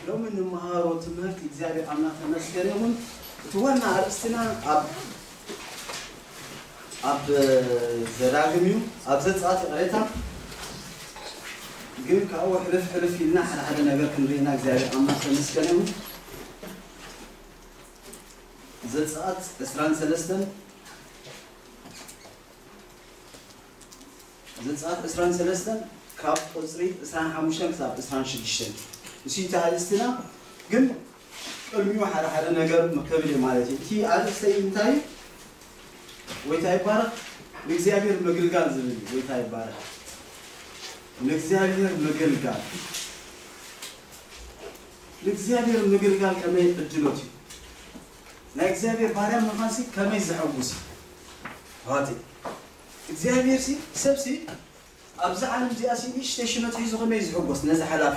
ሎሚ ንመሃሮ ትምህርቲ እግዚኣብሔር ኣምላክ ተመስገን ይኹን እቲ ዋና ኣርእስትና ኣብ ኣብ ዘዳግም እዩ ኣብ ዘፃት ይቕሬታ ግን ካብኡ ሕልፍ ሕልፍ ኢልና ሓደ ሓደ ነገር ክንርኢና እግዚኣብሔር ኣምላክ ተመስገን ይኹን ዘፃት ዕስራን ሰለስተን ዘጸኣት ዕስራን ሰለስተን ካብ ቁጽሪ ዕስራን ሓሙሽተን ክሳብ ዕስራን ሽዱሽተን እሱይ እቲ ኣርእስትና ግን ቅድሚኡ ሓደ ሓደ ነገር መከብ እየ ማለት እዩ እቲ ኣርእስተይ እንታይ እዩ ጎይታ ይባረክ ንእግዚኣብሔር ምግልጋል ዝብል እዩ ጎይታ ይባረክ ንእግዚኣብሔር ምግልጋል ንእግዚኣብሔር ምግልጋል ከመይ ዕድሎት እዩ ናይ እግዚኣብሔር ባርያ ምኻንሲ ከመይ ዘሐጉስ እዩ ኣሕዋተይ እግዚኣብሔር ሲ ሰብ ሲ ኣብዛ ዓለም እዚኣ ሲ ንእሽተይ ሽመት ሒዙ ከመይ እዩ ዝሕጎስ ነዚ ሓላፊ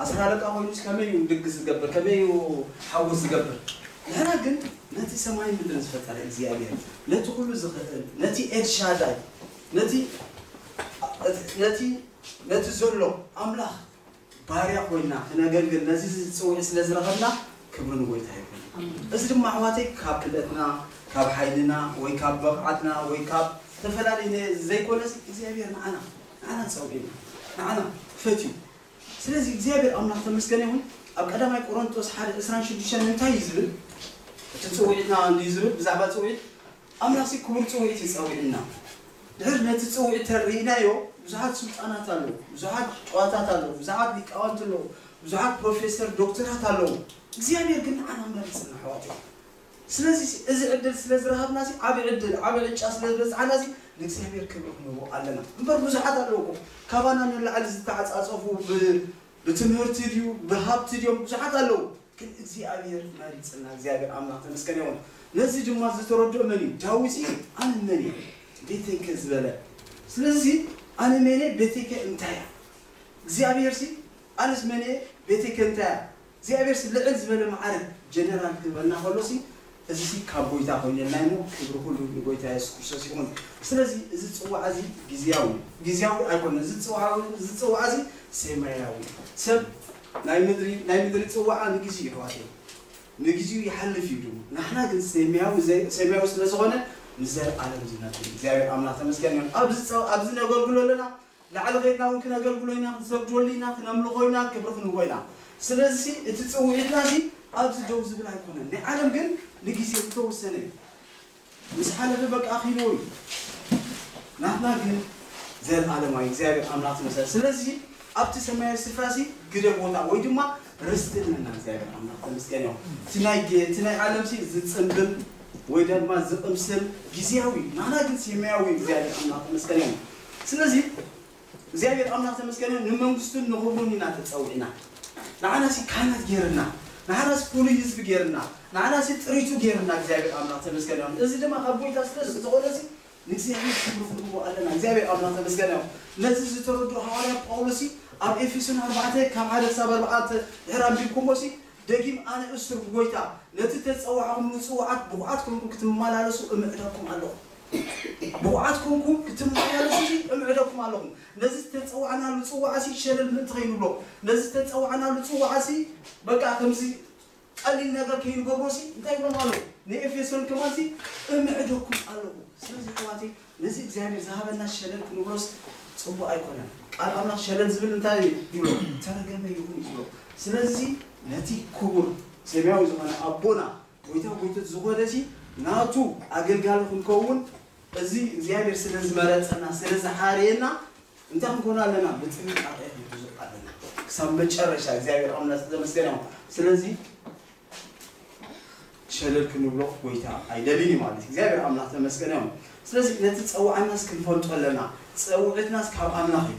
ኣስር ኣለቃ ኮይኑስ ከመይ እዩ ድግስ ዝገብር ከመይ እዩ ሓጎስ ዝገብር ንሕና ግን ነቲ ሰማይን ምድርን ዝፈጠረ እግዚኣብሔር ነቲ ኩሉ ዝኽእል ነቲ ኤልሻዳይ ነቲ ነቲ ነቲ ዘሎ ኣምላኽ ባርያ ኮይና ክነገልግል ነዚ ጽውዒት ስለ ዝረኸብና ክብሪ ንጎይታ ይኹን። እዚ ድማ ኣሕዋተይ ካብ ክእለትና ካብ ሓይልና ወይ ካብ በቕዓትና ወይ ካብ ተፈላለየ ዘይኮነሲ እግዚኣብሔር ንዓና ንዓና ጸውዒና ንዓና ፈትዩ ስለዚ እግዚኣብሔር ኣምላኽ ተመስገነ ይኹን ኣብ ቀዳማይ ቆሮንቶስ ሓደ ዕስራን ሽዱሽተን እንታይ እዩ ዝብል እቲ ጽውዒትና እንድዩ ዝብል ብዛዕባ ጽውዒት ኣምላኽሲ ክቡር ጽውዒት እዩ ጸዊዑና። ድሕር ነቲ ጽውዒት እንተ ርኢናዮ ብዙሓት ስልጣናት ኣለዉ፣ ብዙሓት ጨዋታት ኣለዉ፣ ብዙሓት ሊቃውንቲ ኣለዉ፣ ብዙሓት ፕሮፌሰር ዶክተራት ኣለዉ፣ እግዚኣብሔር ግን ንዓና መሪጽና ኣሕዋተይ። ስለዚሲ እዚ ዕድል ስለ ዝረኸብናሲ ዓቢ ዕድል ዓቢ ዕጫ ስለ ዝበጽሓናሲ ንእግዚኣብሔር ክብሪ ክንህቦ ኣለና። እምበር ብዙሓት ኣለዉ እኮ ካባና ንላዕሊ ዝተዓጻጸፉ ብ ብትምህርቲ ድዩ ብሃብቲ ድዮም ብዙሓት ኣለዉ ግን እግዚኣብሔር መሪጽና እግዚኣብሔር ኣምላክ ተመስገን ይኹን ነዚ ድማ ዝተረድኦ መን እዩ ዳዊት እዩ ኣነ መን እየ ቤተይከ ዝበለ ስለዚ ኣነ መን እየ ቤተይከ እንታይ እያ እግዚኣብሔርሲ ኣነስ መን እየ ቤተይከ እንታይ እያ እግዚኣብሔርሲ ልዕል ዝበለ መዓርግ ጀነራል ክህበና ከሎሲ እዚሲ ካብ ጎይታ ኮይነልና እዩ እሞ ክብሪ ኩሉ ንጎይታ የሱስ ክርስቶስ ይኹን ስለዚ እዚ ጽዋዓ እዚ ግዝያዊ እዩ ግዝያዊ ኣይኮነን እዚ ጽውዓ እዚ ጽውዓ እዚ ሴማያዊ እዩ ሰብ ናይ ምድሪ ናይ ምድሪ ጽዋዓ ንግዝዩ የሕዋተይ ንግዝዩ ይሓልፍ እዩ ድሙ ናሕና ግን ሴማያዊ ሴማያዊ ስለ ዝኾነ ንዘልኣለም ዝነብር እዩ እግዚኣብሔር ኣምላኽ ተመስገን ይኹን ኣብዚ ጸው ኣብዚ ነገርግሎ ኣለና ላዕሊ ኼድና እውን ክነገልግሎ ኢና፣ ክንሰግደሉ ኢና፣ ክነምልኾ ኢና፣ ክብሪ ክንህቦ ኢና። ስለዚሲ እቲ ጽውዒትናሲ ኣብዚ ደው ዝብል ኣይኮነን። ናይ ዓለም ግን ንጊዜኡ እተወሰነ እዩ። ምስ ሓለፈ በቃ ኣኺልዎ እዩ። ናትና ግን ዘለኣለማዊ እግዚኣብሔር ኣምላኽ ትመሰል። ስለዚሲ ኣብቲ ሰማያዊ ስፍራሲ ግደ ቦታ ወይ ድማ ርስቲ ኣለና። እግዚኣብሔር ኣምላኽ ተመስገን ይኹን። እቲ ናይ ግ- እቲ ናይ ዓለምሲ ዝጽምብል ወይ ድማ ዝቕምስል ጊዜያዊ እዩ። ናህና ግን ሴማያዊ እዩ። እግዚኣብሔር ኣምላኽ ተመስገን ይኹን። ስለዚ እግዚኣብሔር ኣምላክ ተመስገነ ንመንግስቱን ንክብሩን ኢና ተጸዊዕና ንዓናሲ ካህናት ገይርና ንዓናሲ ፍሉይ ህዝቢ ገይርና ንዓናሲ ጥሪቱ ገይርና እግዚኣብሔር ኣምላክ ተመስገነ ይኩን እዚ ድማ ካብ ጎይታ ስለ ዝኮነ እዚ ንእግዚኣብሔር ክብሪ ክንህቦ ኣለና እግዚኣብሔር ኣምላክ ተመስገነ ይኩን ነዚ ዝተረድኦ ሃዋርያ ጳውሎሲ ኣብ ኤፌሶን ኣርባዕተ ካብ ሓደ ክሳብ ኣርባዕተ ድሕር ኣንቢብኩሞሲ ደጊም ኣነ እሱር ብጎይታ ነቲ ተጸዋዕኩምሉ ጽውዓት ብቁዓት ኮንኩም ክትመላለሱ እምዕደኩም ኣለኩ ብቑዓት ኰንኩም ክትመላለሱሲ እምዕደኩም ኣሎኹ። ነዚ ዝተጸዋዕናሉ ጽዋዕሲ ሸለል ምእንቲ ኸይንብሎ፣ ነዚ ዝተጸዋዕናሉ ጽዋዕሲ በቃ ከምዚ ቐሊል ነገር ከይንገብሮሲ፣ እንታይ ይብሎም ኣለዉ? ንኤፌሶን ከማንሲ እምዕደኩም ኣሎኹ። ስለዚ ኣሕዋተይ፣ ነዚ እግዚኣብሄር ዝሃበና ሸለል ክንብሎስ ጽቡቕ ኣይኰነን። ቃል ኣምላኽ ሸለል ዝብል እንታይ እዩ ይብሎ? እተረገመ ይኹን እዩ ዝብሎ። ስለዚሲ ነቲ ክቡር ሰማያዊ ዝዀነ ኣቦና፣ ጎይታ ጎይትት ዝኾነ ሲ ናቱ ኣገልጋሊ ክንከውን እዚ እግዚኣብሔር ስለ ዝመረጸና ስለ ዝሓረየና እንታይ ክንኮን ኣለና ብጥንቃቄ ክንሕዞ ኣለና ክሳብ መጨረሻ እግዚኣብሔር ኣምላክ ዝተመስገነ ይኹን ስለዚ ሸለል ክንብሎ ጎይታ ኣይደልን እዩ ማለት እግዚኣብሔር ኣምላክ ተመስገነ ይኹን ስለዚ ነቲ ጸዋዕናስ ክንፈልጦ ኣለና ጸውዕትናስ ካብ ኣምላክ እዩ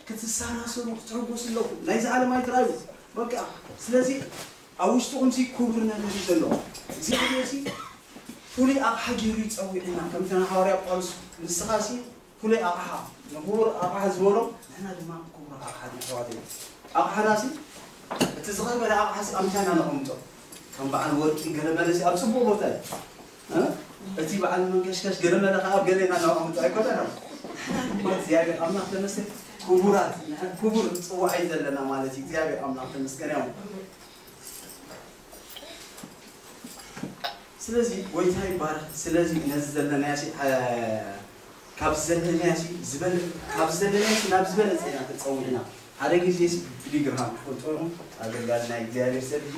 ክትሰናሰኑ ክትሕጎሱ ኣለኩም ናይዚ ዓለም ኣይትርኣዩ በቃ ስለዚ ኣብ ውሽጥኹምሲ ኩቡር ነገር እዩ ዘሎ እግዚኣብሔርሲ ፍሉይ ኣቕሓ ጌሩ እዩ ጸዊዑና ከምቲ ንሃዋርያ ጳውሎስ ንስኻሲ ፍሉይ ኣቕሓ ንኩቡር ኣቕሓ ዝበሎ ንሕና ድማ ኩቡራት ኣቕሓት ኢና ኣሕዋተይ ኣቕሓናሲ እቲ ዝኸበረ ኣቕሓሲ ኣብ ምንታይ ኢና ነቐምጦ ከም በዓል ወርቂ ገለ መለሲ ኣብ ጽቡቕ ቦታ እዩ እቲ በዓል መንከሽከሽ ገረመለ ከኣ ገለ ኢና እናቋምቱ ኣይኮነን ኣሎ ንሕና ድማ እግዚኣብሔር ኣምላኽ ተመስገን ክቡራት ንሕ- ክቡር ንጽዋዕ እዩ ዘለና ማለት እዩ እግዚኣብሔር ኣምላኽ ተመስገን እዮም ስለዚ ጎይታ ይባረክ ስለዚ ነዚ ዘለናዮ ሲ- አ- ካብ ዘለናዮ ሲ ዝበለ- ካብ ዘለናዮ ሲ ናብ ዝበለፀ ኢና ተፀዊዕና ሓደ ግዜ ሲ ቢሊ ግርሃም ትፈልጥዎ ኢኹም ኣገልጋሊ ናይ እግዚኣብሔር ሰብ እዩ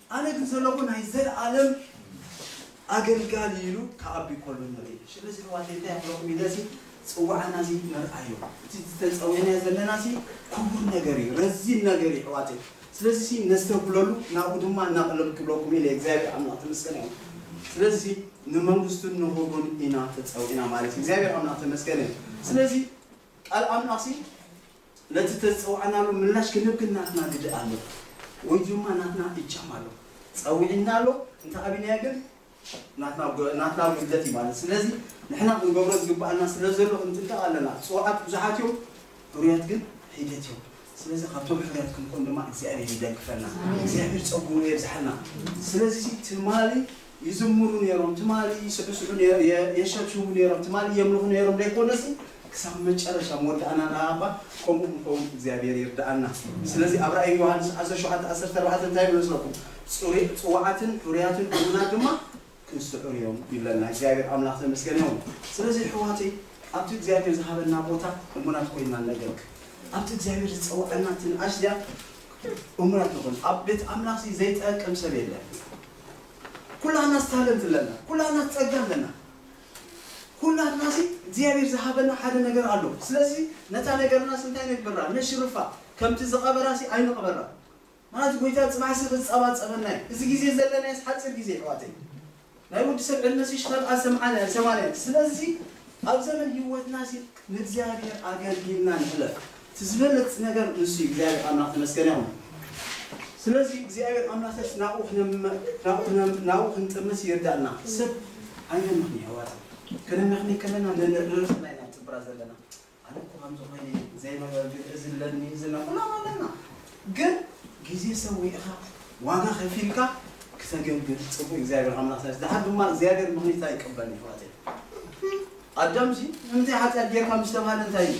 ኣነ ግን ዘለኹ ናይ ዘልኣለም ኣገልጋሊ ኢሉ ክኣቢ ከሎ ንርኢ። ሽለዚ ኣሕዋተይ እንታይ ክብለኩም ኢለ እዚ ጽውዓና እዚ ንርኣዮ። እቲ ዝተጸዊዕናዮ ዘለና እዚ ክቡር ነገር እዩ፣ ረዚን ነገር እዩ ኣሕዋተይ። ስለዚሲ ነስተብህለሉ ናብኡ ድማ እናቐለልኩ ክብለኩም ኢለ እግዚኣብሔር ኣምላኽ ተመስገን ይኹን። ስለዚሲ ንመንግስቱን ንኽብሩን ኢና ተጸዊዕና ማለት እዩ። እግዚኣብሔር ኣምላኽ ተመስገን ይኹን። ስለዚ ቃል ኣምላኽሲ። ነቲ ዝተጸዋዕናሉ ምላሽ ክንህብ ግን ናትና ግደ ኣሎ ወይ ድማ ናትና እጃም ኣሎ። ጸዊዕና ኣሎ እንተ ኣቢናዮ ግን ናትና ናትና ጉድለት እዩ ማለት። ስለዚ ንሕና ክንገብሮ ዝግብኣና ስለ ዘሎ ክንጥንቀቕ ኣለና። ጽዋዓት ብዙሓት እዮም ሕሩያት ግን ሒደት እዮም። ስለዚ ካብቶም ሕሩያት ክንኮን ድማ እግዚኣብሄር ይደግፈና። እግዚኣብሄር ጸግኡ የብዝሓልና። ስለዚ ትማሊ ይዝምሩ ነይሮም ትማሊ ይስዕስዑ የሸብሽቡ ነይሮም ትማሊ የምልኹ ነይሮም ዘይኮነሲ ክሳብ መጨረሻ መወዳእና ንኣባ ከምኡ ክንከውን እግዚኣብሔር ይርድኣና ስለዚ ኣብ ራእይ ዮሃንስ ዓሰርተ ሸውዓተ ዓሰርተ ኣርባዕተ እንታይ ይብል መስለኩም ጽሩይ ጽውዓትን ሕሩያትን ሕቡናት ድማ ክንስዑር እዮም ይብለና እግዚኣብሔር ኣምላኽ ተመስገን ይኹን ስለዚ ኣሕዋተይ ኣብቲ እግዚኣብሔር ዝሃበና ቦታ እሙናት ኮይና ነገርክ ኣብቲ እግዚኣብሔር ዝጸውዐና ትንኣሽ እዚኣ እሙናት ንኹን ኣብ ቤት ኣምላኽ ዘይጠቅም ሰብ የለን ኩላትናስ ታለንት ኣለና ኩላትና ጸጋ ኣለና ኩላትናሲ እግዚኣብሔር ዝሃበና ሓደ ነገር ኣሎ ስለዚ ነታ ነገርናስ እንታይ ነግብራ ነሽርፋ ከምቲ ዝቀበራሲ ኣይንቅበራ ምክንያቱ ጎይታ ጽባሕሲ ክጸባጸበና እዩ እዚ ግዜ ዘለናዮስ ሓጺር ግዜ ኣሕዋተይ ናይ ወዲ ሰብ ዕድመሲ ሽኸልኣ ሰምዓና ሰማንያ ስለዚ ኣብ ዘመን ህይወትናሲ ንእግዚኣብሔር ኣገልጊልና ንሕለፍ እቲ ዝበለጽ ነገር ንሱ እዩ እግዚኣብሔር ኣምላክ ተመስገነ ይኩን ስለዚ እግዚኣብሔር ኣምላክስ ናብኡ ናብኡ ክንጥምት ይርዳእና ሰብ ኣይነምክኒ ኣዋጣም ከነመክኒ ከለና ንርእስና ኢና ንጽብራ ዘለና ኣነ እኮ ከምዚ ኮይነ ዘይ ነገር ግን እዚ ኣለኒ እዚ ኣለኒ ኩላና ኣለና ግን ግዜ ሰዊእካ ዋጋ ከፊልካ ክተገልግል ጽቡቅ እግዚኣብሔር ኣምላክ ስለዚ ድሓር ድማ እግዚኣብሔር ምክኒት ኣይቀበልን ይሕዋተይ ኣዳምሲ ንምንታይ ሓጢኣት ጌርካ ምስ ተባህለ እንታይ እዩ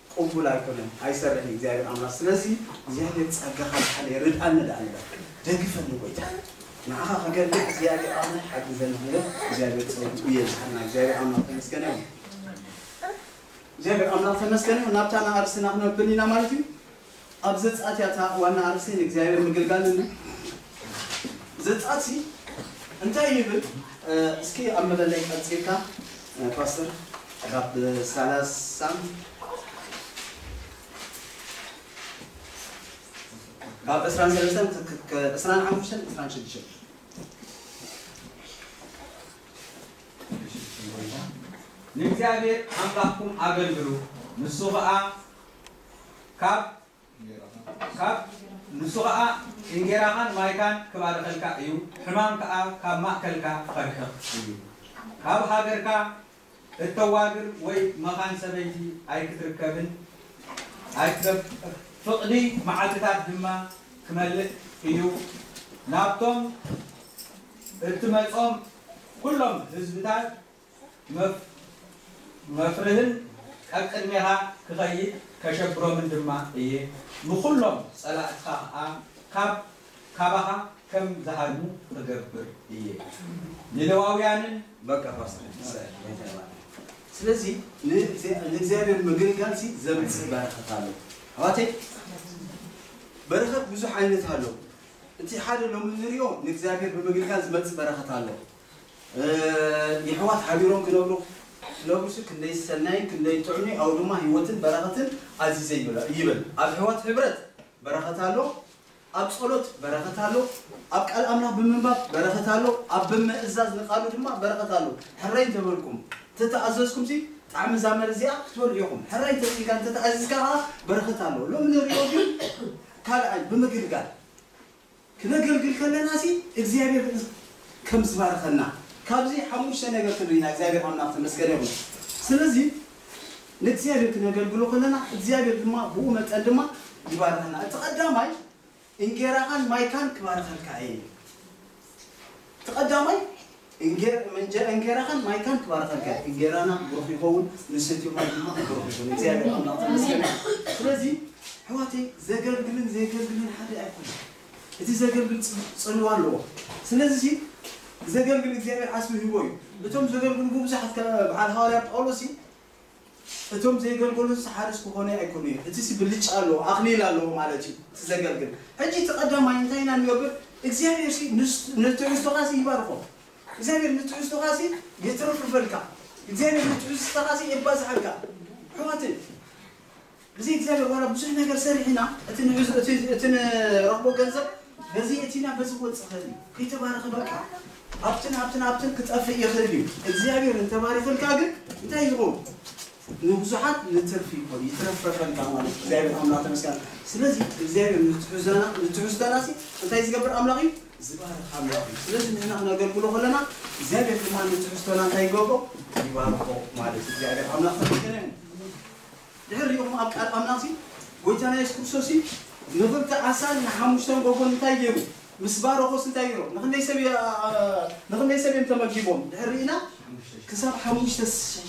ቁቡል ኣይኮነን ኣይሰርሕን እዩ እግዚኣብሔር ኣምላክ ስለዚ እግዚኣብሔር ጸጋካ ዝሓለየ ይርድኣኒ ደኣ ንበል ደግፈኒ ጎይታ ንዓካ ክገድፍ እግዚኣብሔር ኣምላክ ሓግዘኒ ክንብል እግዚኣብሔር ጸጉኡ የብዝሓልና እግዚኣብሔር ኣምላክ ተመስገን ይሁን እግዚኣብሔር ኣምላክ ተመስገን ይሁን ናብታ ንኣርስና ክነብል ኢና ማለት እዩ ኣብ ዘጸኣት እያ እታ ዋና ኣርእስተይ ንእግዚኣብሔር ምግልጋል ዝብል ዘጸኣት ሲ እንታይ ይብል? እስኪ ኣብ መደላይ ቀጺልካ ፓስተር ካብ ሰላሳ ካብ ዕስራን ሰለስተን ዕስራን ሓሙሽተን ዕስራን ሽዱሽተን ንእግዚኣብሔር ኣምላኽኩም ኣገልግሉ ንሱ ኸኣ ካብ ንሱ ኸኣ እንጌራኻን ማይካን ኪባርኸልካ እዩ፣ ሕማም ከኣ ካብ ማእከልካ ኪርሕቕ እዩ። ካብ ሃገርካ እተዋግር ወይ መኻን ሰበይቲ ኣይክትርከብን፣ ፍቕዲ መዓልትታት ድማ ኪመልእ እዩ፣ ናብቶም እትመጾም ኵሎም ህዝብታት መፍርህን ኣብ ቅድሜኻ ክኸይድ ከሸብሮምን ድማ እየ፣ ንዅሎም ጸላእትኻ ኸኣ ካብ ካባኻ ከም ዝሃድሙ ኽገብር እየ። ንሌዋውያንን። በቃ ፓስተር ይስዕብ ጌታ ይባርክ ስለዚ ንእግዚኣብሔር ምግልጋል ሲ ዘምጽእ በረከት ኣሎ ኣሕዋተይ በረከት ብዙሕ ዓይነት ኣሎ እቲ ሓደ ሎሚ ንሪኦ ንእግዚኣብሔር ብምግልጋል ዝመጽእ በረከት ኣሎ የሕዋት ሓቢሮም ክነብሩ ክነብሩሲ ክንደይ ሰናይን ክንደይ ጥዑምዩ ኣውድማ ሂወትን በረኸትን ኣዚዘ ይብል ኣብ ኣሕዋት ሕብረት በረኸት ኣሎ ኣብ ጸሎት በረኸት ኣሎ ኣብ ቃል ኣምላኽ ብምንባብ በረኸት ኣሎ ኣብ ብምእዛዝ ንቃሉ ድማ በረኸት ኣሎ ሕራይ እንተበልኩም እንተተኣዘዝኩምሲ ጣዕሚ እዛ መር እዚኣ ክትበልዑ ኢኹም ሕራይ እንተጺኢልካ እንተተኣዚዝካ ከኣ በረኸት ኣሎ ሎሚ ንሪኦ ግን ካልኣይ ብምግልጋል ክነገልግል ከለና ሲ እግዚኣብሔር ከም ዝባርኸና ካብዚ ሓሙሽተ ነገር ተምሪና እግዚኣብሔር ኣምላክ ተመስገነ ይኹን ስለዚ ንእግዚኣብሔር ክነገልግሎ ከለና እግዚኣብሔር ድማ ብኡ መጠን ድማ ይባርኸና እቲ ቀዳማይ እንጌራኻን ማይካን ክባርኸልካ እየ እቲ ቀዳማይ እንጀራ እንጌራኻን ማይካን ክባርኸልካ እዩ እንጌራና ብሩኽ ይኸውን ንሰትዮ ማይ ድማ ብሩኽ ይኹን እግዚኣብሔር ኣምላኽ ተመስገን ይኹን ስለዚ ኣሕዋተይ ዘገልግልን ዘየገልግልን ሓደ ኣይኮነን እቲ ዘገልግል ጽልዋ ኣለዎ ስለዚ ዘገልግል እግዚኣብሔር ዓስቢ ሂቦ እዩ እቶም ዘገልግሉ ብብዙሓት በዓል ሃዋርያ ጳውሎስ እዩ እቶም ዘይገልገሉስ ሓርስ ክኾኑይ ኣይኮኑይ እቲሲ ብልጫ ኣለዎ ኣኽሊል ኣለዎ ማለት እዩ እቲ ዘገልግል ሕጂ እቲ ቀዳማይ እንታይ ኢና ንገብር እግዚኣብሔርሲ ንትሕዝቶኻሲ ይባርኾ እግዚኣብሔር ንትሕዝቶኻሲ የትርፍርፈልካ እግዚኣብሔር ንትሕዝቶኻሲ የባዝሓልካ ኣሕዋተይ ብዘይ እግዚኣብሔር ዋላ ብዙሕ ነገር ሰሪሕና እቲ ንሕዙ እቲ እቲ ንረኽቦ ገንዘብ በዚ የእቲና በዚ ክወጽእ ይኽእል እዩ ከይተባረኸ በቃ ኣብትን ኣብትን ኣብትን ክጠፍእ ይኽእል እዩ እግዚኣብሔር እንተባሪኽልካ ግን እንታይ ዝኸውን ንብዙሓት ንትርፊ ይኾን ይትረፈፈልካ ማለት እዩ እግዚኣብሔር ኣምላኽ ተመስገን ስለዚ እግዚኣብሔር ንትሑዛና ንትሑዝታና ሲ እንታይ ዝገብር ኣምላኽ እዩ ዝባርኽ ኣምላኽ እዩ ስለዚ ንሕና ክነገልግሎ ከለና እግዚኣብሔር ድማ ንትሑዝቶና እንታይ ይገብሮ ይባርኾ ማለት እዩ እግዚኣብሔር ኣምላኽ ተመስገን እዩ ድሕር ሪኢኹም ኣብ ቃል ኣምላኽሲ ጎይታና የሱስ ክርስቶስሲ ንኽልተ ዓሳን ንሓሙሽተ እንጎጎን እንታይ ገይሩ ምስ ባረኾስ እንታይ ገይሮም ንኽንደይ ሰብ ንኽንደይ ሰብ እዮም ተመጊቦም ድሕር ርኢና ክሳብ ሓሙሽተ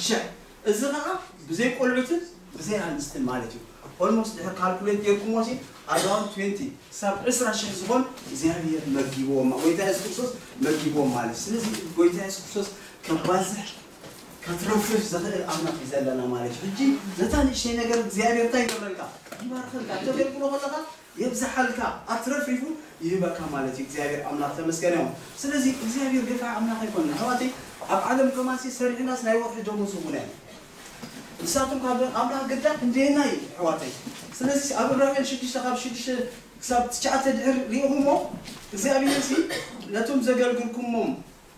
ሽሕ እዚ ኸኣ ብዘይ ቆልዑትን ብዘይ ኣንስትን ማለት እዩ ኦልሞስት ድሕር ካልኩሌት ገይርኩሞሲ ኣራውንድ ትዌንቲ ክሳብ ዕስራ ሽሕ ዝኾን እግዚኣብሄር መጊብዎም ጎይታ የሱስ ክርስቶስ መጊብዎም ማለት እዩ ስለዚ ጎይታ የሱስ ክርስቶስ ከባዝሕ ከትርፍርፍ ዝኽእል ኣምላኽ እዩ ዘለና ማለት እዩ ሕጂ ነታ ንእሽተይ ነገር እግዚኣብሄር እንታይ ይገብረልካ ይባርኸልካ እተገልግሎ ከለኻ የብዝሓልካ ኣትረፍሪፉ ይህበካ ማለት እዩ እግዚኣብሄር ኣምላኽ ተመስገን እዮም ስለዚ እግዚኣብሄር ገፋዒ ኣምላኽ ኣይኮነን ኣሕዋተይ ኣብ ዓለም ከማንሲ ሰሪሕናስ ናይ ወርሒ ደሞዝ እውን ኣይ ንሳቶም ካብ ኣምላኽ ግዳ ክንደየና እዩ ኣሕዋተይ ስለዚ ኣብ ዕብራውያን ሽዱሽተ ካብ ሽዱሽተ ክሳብ ትሽዓተ ድሕር ሪኢኹሞ እግዚኣብሄርሲ ነቶም ዘገልግልኩሞም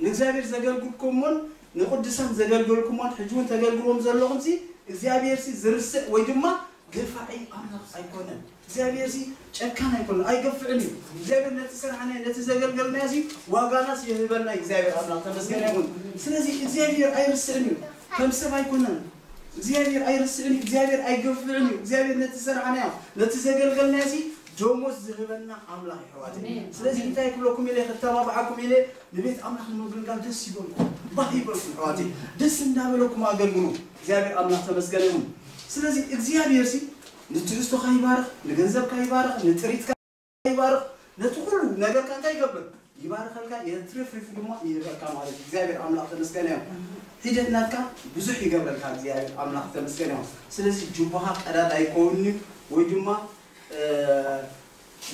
ንእግዚኣብሔር ዘገልግልኩሞን ንቅዱሳን ዘገልገልኩሞን ሕጂ ውን ተገልግልዎም ዘለኹምሲ እግዚኣብሔርሲ ዝርስዕ ወይ ድማ ገፋዒ ኣምላኽ ኣይኮነን እግዚኣብሔርሲ ጨካን ኣይኮነን ኣይገፍዕን እዩ እግዚኣብሔር ነቲ ዝሰራሕናዮ ነቲ ዘገልገልናዮሲ ዋጋናስ ይህበና እዩ እግዚኣብሔር ኣምላኽ ተመስገን ይኹን ስለዚ እግዚኣብሔር ኣይርስዕን እዩ ከም ሰብ ኣይኮነን እግዚኣብሄር ኣይርስዕን እዩ፣ እግዚኣብሄር ኣይገፍዕን እዩ፣ እግዚኣብሄር ነቲ ዝሰራሕናዮ ነቲ ዘገልገልናዮሲ ደሞዝ ዝህበና ኣምላኽ የሕዋተይ ኣሜን ስለዚ ኣሜን እንታይ ክብለኩም ኢለ ከተባብዓኩም ኢለ ንቤት ኣምላኽ ንምግልጋል ደስ ይበልኩም ባህ ይበልኩም ኣሕዋተይ ደስ እንዳበለኩም ኣገልግሉ እግዚኣብሄር ኣምላኽ ተመስገን ይኹን ስለዚ እግዚኣብሄርሲ ንትሕዝቶኻ ይባርኽ ንገንዘብካ ይባርኽ ንጥሪትካ ይባርኽ ነቲ ኩሉ ነገርካ እንታይ ይገብር ይባርኸልካ የትርፍርፍ ድማ ይህበካ ማለት እዩ እግዚኣብሔር ኣምላኽ ተመስገን እዮም ሒደት ናትካ ብዙሕ ይገብረልካ እግዚኣብሔር ኣምላኽ ተመስገን እዮም ስለዚ ጅቦኻ ቀዳድ ኣይከውን እዩ ወይ ድማ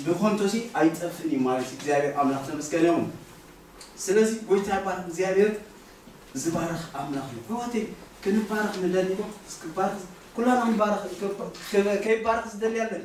ብኮንቶሲ ኣይጠፍእን እዩ ማለት እግዚኣብሔር ኣምላኽ ተመስገን እዮም ስለዚ ጎይታ ይባርኽ እግዚኣብሔር ዝባርኽ ኣምላኽ እዩ ሕዋተይ ክንባረኽ ንደሊ ዶ እስክባርኽ ኩላና ንባረኽ ከይባረኽ ዝደሊ ኣለኒ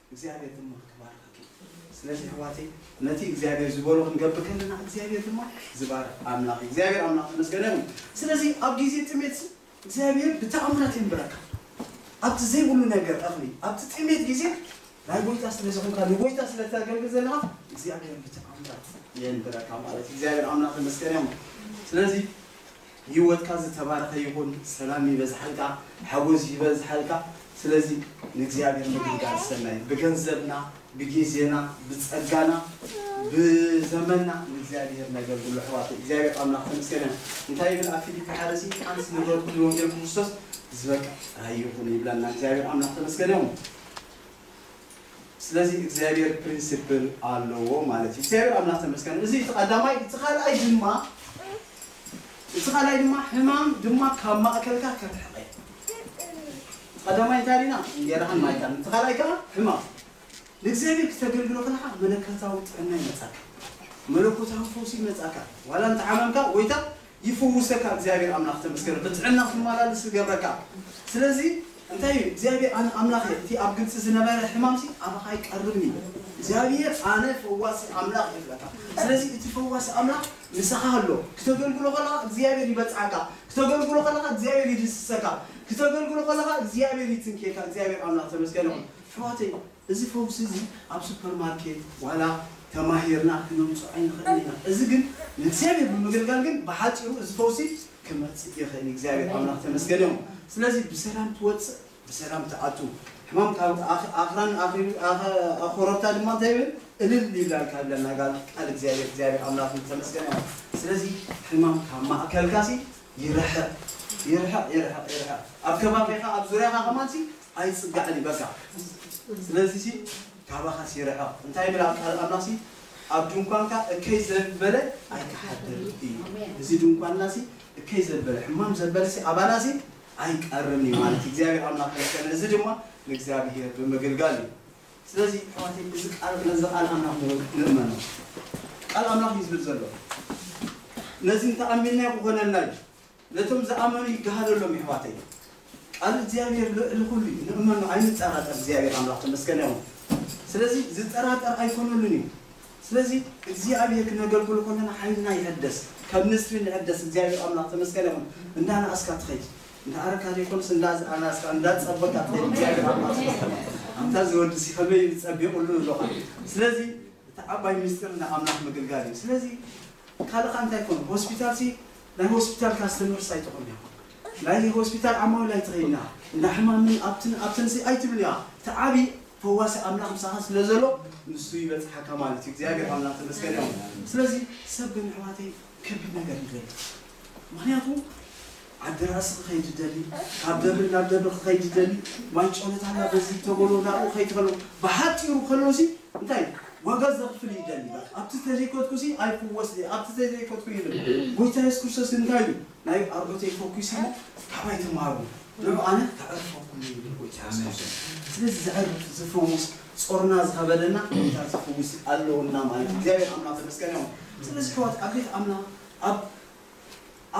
እግዚኣብሔር ድማ ክትባርኸኪ ስለዚ ኣሕዋተይ ነቲ እግዚኣብሔር ዝበሎ ክንገብር ከለና እግዚኣብሔር ድማ ዝባርኽ ኣምላኽ እግዚኣብሔር ኣምላኽ ተመስገነ ይኹን ስለዚ ኣብ ግዜ ጥሜት እግዚኣብሔር ብተኣምራት የንብረካ ኣብቲ ዘይብሉ ነገር እኽሊ ኣብቲ ጥሜት ግዜ ናይ ጎይታ ስለ ዝኾንካ ንጎይታ ስለ ተገልግል ዘለኻ እግዚኣብሔር ብተኣምራት የንብረካ ማለት እግዚኣብሔር ኣምላኽ ተመስገነ ይኹን ስለዚ ሂወትካ ዝተባረኸ ይኹን ሰላም ይበዝሓልካ ሓጎስ ይበዝሓልካ ስለዚ ንእግዚኣብሔር ምግልጋል ሰናይ ብገንዘብና ብጊዜና ብጸጋና ብዘመና ንእግዚኣብሔር ነገልግሎ ኣሕዋተይ እግዚኣብሔር ኣምላኽ ተመስገነ እንታይ ይብል ኣብ ፊሊፒ ሓደ እዚ ሓንስ ንገርኩም ንወንጌል ክርስቶስ ዝበቅዕ ራእይ ይኹን ይብለና እግዚኣብሔር ኣምላኽ ተመስገነ ይኹን። ስለዚ እግዚኣብሔር ፕሪንሲፕል ኣለዎ ማለት እዩ እግዚኣብሔር ኣምላክ ተመስገን እዚ እቲ ቀዳማይ እቲ ካልኣይ ድማ እቲ ካልኣይ ድማ ሕማም ድማ ካብ ማእከልካ ከርሕቀ እዩ እቲ ቀዳማይ እንታይ ሪና እንጌራኻን ማይካን እቲ ካልኣይ ከዓ ሕማም ንእግዚኣብሔር ክተገልግሎ ከለካ መለከታዊ ጥዕና ይመፃካ መለኮታዊ ፈውሲ ይመፃካ ዋላ እንተሓመምካ ጎይታ ይፍውሰካ እግዚኣብሔር ኣምላክ ተመስገን ብጥዕና ክትማላልስ ክገብረካ ስለዚ እንታይ እዩ እግዚኣብሔር ኣነ ኣምላክ እየ እቲ ኣብ ግብፂ ዝነበረ ሕማምሲ ኣባካ ይቀርብን እዩ እግዚኣብሔር ኣነ ፈዋሲ ኣምላክ እየ ክብለካ ስለዚ እቲ ፈዋሲ ኣምላክ ምሳካ ኣሎ ክተገልግሎ ከለካ እግዚኣብሔር ይበፅሓካ ክተገልግሎ ከለካ እግዚኣብሔር ይድስሰካ ክተገልግሎ ከለካ እግዚኣብሔር ይትንክየካ እግዚኣብሔር ኣምላክ ተመስገን ይኩን ኣሕዋተይ እዚ ፈውሲ እዚ ኣብ ሱፐርማርኬት ዋላ ተማሂርና ክነምጽኦ ኣይንኽእልን ኢና። እዚ ግን ንእግዚኣብሄር ብምግልጋል ግን ብሓጺሩ እዚ ፈውሲ ክመጽእ ይኽእል እዩ። እግዚኣብሄር ኣምላኽ ተመስገን ይኹን። ስለዚ ብሰላም ትወጽእ ብሰላም ትኣቱ። ሕማም ካብ ኣኽራን ኣኽሪቡ ኮረብታ ድማ እንታይ ይብል እልል ይብላልካ ይብለና ጋል ቃል እግዚኣብሄር እግዚኣብሄር ኣምላኽ ዝተመስገነ ይኹን። ስለዚ ሕማም ካብ ማእከልካሲ ይርሕቕ ይርሕቕ ይርሕቕ ይርሕቕ። ኣብ ከባቢኻ ኣብ ዙርያኻ ከማንሲ ኣይጽጋዕን እዩ በቃ ስለዚ ሲ ካባኻስ ይርሕቕ እንታይ ይብል ኣብ ቃል ኣምላኽ ሲ ኣብ ድንኳንካ እከይ ዘበለ ኣይክሓድርን እዩ እዚ ድንኳንና ሲ እከይ ዘበለ ሕማም ዘበለ ሲ ኣባና ሲ ኣይቀርን እዩ ማለት እዩ እግዚኣብሔር ኣምላኽ ከመስገን እዚ ድማ ንእግዚኣብሔር ብምግልጋል እዩ ስለዚ ኣሕዋተይ እዚ ቃል ነዚ ቃል ኣምላኽ ንእመኖ ቃል ኣምላኽ እዩ ዝብል ዘሎ ነዚ እንተኣሚንናዮ ክኾነልና እዩ ነቶም ዝኣመኑ ይገሃደሎም የሕዋተይ ቃል እግዚኣብሔር ልዕሊ ኩሉ እዩ ንእመኖ ኣይንጠራጠር እግዚኣብሔር ኣምላክ ተመስገን ይኩን ስለዚ ዝጠራጠር ኣይኮነሉን እዩ ስለዚ እግዚኣብሔር ክነገልግሎ ከለና ሓይልና ይሕደስ ከም ንስሪ ንሕደስ እግዚኣብሔር ኣምላክ ተመስገን ይኩን እንዳነኣስካ ትከይድ እንዳኣረካ ዘይኮነስ እንዳኣነኣስካ እንዳጸበካ ትከይድ እግዚኣብሔር ኣምላክ ተመስገን ኣንታ ዝወዲ ሲ ከመይ እዩ ጸቢቁሉ ንብሎካ ስለዚ እቲ ዓባይ ምስጢር ንኣምላክ ምግልጋል እዩ ስለዚ ካልእ ከ እንታይ ኮን ሆስፒታል ሲ ናይ ሆስፒታል ካስተመርስ ኣይትኹንያ ናይ ሆስፒታል ዓማዊል ኣይትኺንያ እንዳ ሕማምን ኣብትን ኣብትንሲ ኣይትብልያ ትዓቢ ፈዋሲ ኣምላኽ ምሳኻ ስለዘሎ ንሱ ይበጽሓካ ማለት እዩ እግዚኣብሔር ኣምላኽ ተመስገን እዮም ስለዚ ሰብ ግን ኣሕዋተይ ከቢድ ነገር ይደሊ ምክንያቱ ዓዲ ራእሲ ክኸይድ ይደሊ ካብ ደብሪ ናብ ደብሪ ክኸይድ ይደሊ ማይ ጮለታና በዚ ተበሎ ናብኡ ከይድ ከሎ ብሓጢሩ ከሎሲ እንታይ እዩ ዋጋ ዘኽፍል እዩ ደልዩ በቃ ኣብቲ ተዘይከድኩሲ ኣይፍወስን እየ ኣብቲ ተዘይከድኩ ይብል ጎይታ የሱስ ክርስቶስ እንታይ ኢሉ ናይ ኣቦተይ ፈኩሰ እሞ ካባይ ተማሃሩ ንዑ ኣነ ከዕርፈኩም እየ ይብል ጎይታ የሱስ ክርስቶስ ስለዚ ዘዕርፍ ዝፍውስ ጾርና ዝኸበደና ጎይታ ዝፍውስ ኣለውና ማለት እዩ እግዚኣብሔር ኣምላክ ተመስገን ይኹን ስለዚ ሕዋት ኣብ ቤት ኣምላክ ኣብ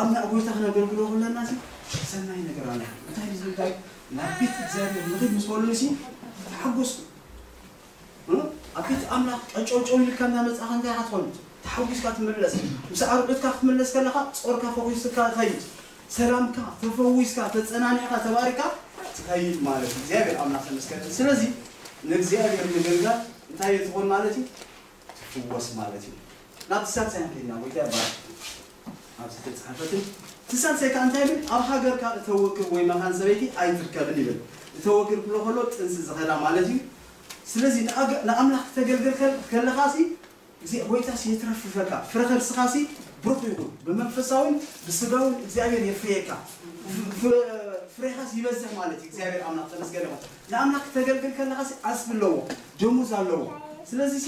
ኣምላክ ጎይታ ክነገልግሎ ከለና ሲ ሰናይ ነገር ኣለና እንታይ ዝብል ዳዊት ናብ ቤት እግዚኣብሔር ንኺድ ምስ በሉኒ ሲ ተሓጎስኩ ኣብ ቤት ኣምላኽ ቀጨውጨው ኢልካ እናመጻእካ እንታይ ኢኻ ትኾን? ተሓጒስካ ትምለስ። ምስ ኣርዑትካ ክትምለስ ከለኻ ጾርካ ፈኹስካ ትኸይድ። ሰላምካ፣ ተፈዊስካ፣ ተጸናኒዕካ፣ ተባሪኽካ ትኸይድ ማለት እዩ። እግዚኣብሔር ኣምላኽ ተመስገን ይኹን። ስለዚ ንእግዚኣብሔር ምግልጋል እንታይ እዩ ትኾን ማለት እዩ? ትፍወስ ማለት እዩ። ናብቲ ሳልሳይ ክንከይድ ኢና። ጐይታ ይባረኽ። ኣብ ዝተጻሕፈትን እቲ ሳልሳይ ከኣ እንታይ ይብል ኣብ ሃገርካ እተወግር ወይ መኻን ሰበይቲ ኣይትርከብን ይብል እተወግር ክብሎ ከሎ ጥንሲ ዝኸዳ ማለት እዩ ስለዚ ንኣምላኽ ክተገልግል ከለኻሲ እግዚኣ ጎይታሲ የትረፍርፈካ ፍረ ከርስኻሲ ብሩኽ ይኹን ብመንፈሳውን ብስጋውን እግዚኣብሔር የፍርየካ ፍሬኻሲ ይበዝሕ ማለት እዩ እግዚኣብሔር ኣምላኽ ተመስገን ይኹን ንኣምላኽ ክተገልግል ከለኻሲ ዓስቢ ኣለዎ ደሞዝ ኣለዎ ስለዚሲ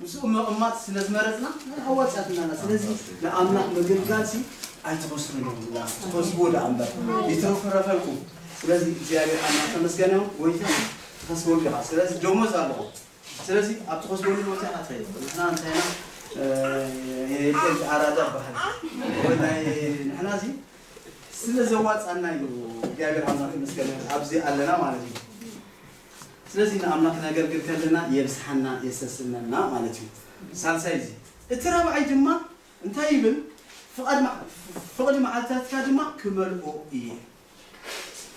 ምስኡ ምቕማጥ ስለ ዝመረጽና ናይ ኣዋጽኣት ኣለና ስለዚ ንኣምላኽ ምግልጋልሲ ኣይትኸስሩን ኢኹም ዳኣ ትኸስብዎ ዳኣ እምበር ይትርፍረፈልኩም ስለዚ እግዚኣብሔር ኣምላኽ ተመስገነ ይኹን ጎይታ ትኸስበሉ ኢኻ ስለዚ ደሞዝ ኣለኹም ስለዚ ኣብ ትኸስበሉ ቦታ ኢኻ ትኸይድ ንሕና እንታይ ኢና የቄል ኣራዳ በሃል ናይ ንሕና እዚ ስለ ዘዋጽኣና እዩ እግዚኣብሔር ኣምላኽ ተመስገነ ይኹን ኣብዚ ኣለና ማለት እዩ ስለዚ ንኣምላኽ ነገልግል ከለና የብዝሓና የሰስነና ማለት እዩ። ሳልሳይ እዚ እቲ ራብዓይ ድማ እንታይ ይብል ፍቓድ ፍቕዲ መዓልታትካ ድማ ክመልኦ እየ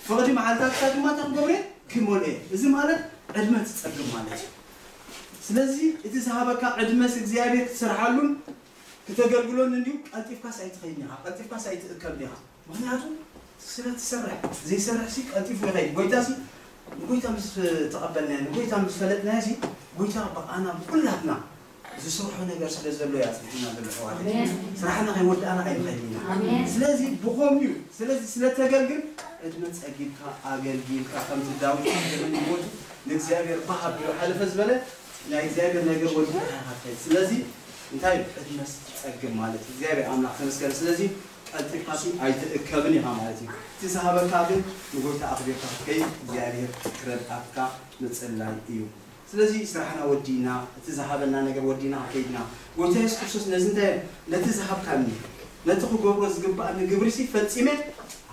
ፍቕዲ መዓልታትካ ድማ እንታይ ክገብሮ እየ ክመልኦ እየ እዚ ማለት ዕድመ ትጸግም ማለት እዩ። ስለዚ እቲ ዝሃበካ ዕድመስ እግዚኣብሔር ክትሰርሓሉን ክተገልግሎን እንድዩ ቀልጢፍካስ ኣይትኸይድን ኢኻ ቀልጢፍካስ ኣይትእከብን ኢኻ። ምኽንያቱ ስለ ትሰርሕ፣ ዘይሰርሕሲ ቀልጢፉ ይኸይድ። ጐይታሲ ንጐይታ ምስ ተቐበልናዮ፣ ንጐይታ ምስ ፈለጥናዮሲ፣ ጐይታ ብኣና ብዅላትና ዝስርሖ ነገር ስለ ዘሎ'ዩ ኣጽኒሑና ዘሎ ኣሕዋተይ። ስራሕና ከይወዳእና ኣይንኸይድን ኢና። ስለዚ ብኸምኡ'ዩ። ስለዚ ስለ እተገልግል ዕድመ ጸጊብካ ኣገልጊልካ ከምቲ ዳዊት ኣብ ዘመን ህይወቱ ንእግዚኣብሄር ባህ ኣቢሉ ሓለፈ ዝበለ ናይ እግዚኣብሄር ነገር ወዲእካ ኢኻ ትኸይድ። ስለዚ እንታይ እዩ ዕድመ ስትጸግብ ማለት እዩ። እግዚኣብሄር ኣምላኽ ተመስገን ስለዚ። ቀልጢፋሲ ኣይትእከብን ኢኻ ማለት እዩ እቲ ዝሃበካ ግን ንጎይታ ኣኽቢርካ ክትከይድ እግዚኣብሄር ክረድኣካ ምጽላይ እዩ ስለዚ ስራሕና ወዲእና እቲ ዝሃበና ነገር ወዲእና ከከይድና ጎይታ የሱስ ክርስቶስ ነዚ እንታይ ነቲ ዝሃብካኒ ነቲ ክገብሮ ዝግብኣኒ ግብሪሲ ፈጺመ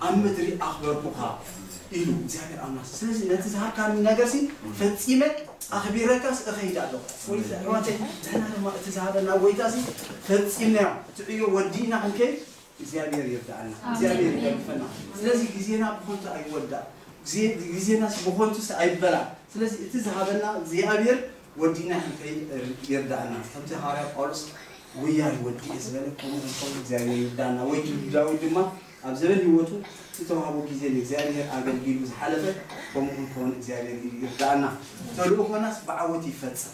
ኣብ ምድሪ ኣኽበርኩኻ ኢሉ እግዚኣብሄር ኣምላኽ ስለዚ ነቲ ዝሃብካኒ ነገርሲ ፈጺመ ኣኽቢረካስ እኸይድ ኣለኹ ወይ ኣሕዋተይ ንሕና ድማ እቲ ዝሃበና ጎይታሲ ፈጺምና እቲ ዕዮ ወዲእና ክንከይድ እግዚኣብሔር ይርድኣና እግዚኣብሔር ይደግፈና ስለዚ ግዜና ብኮንቱ ኣይወዳእ ግዜናስ ብኮንቱስ ኣይበላእ ስለዚ እቲ ዝሃበና እግዚኣብሔር ወዲእና ክንከይድ ይርድኣና ከምቲ ሃዋርያ ጳውሎስ ጉያይ ወዲኤ ዝበለ ከምኡ ክንከውን እግዚኣብሔር ይርድኣና ወይ ዳዊት ድማ ኣብ ዘበን ህይወቱ ዝተዋህቦ ግዜ ንእግዚኣብሄር ኣገልጊሉ ዝሓለፈ ከምኡ ክንከውን እግዚኣብሄር ኢዱ ይርድኣና ተልእኾናስ ብዓወት ይፈጸም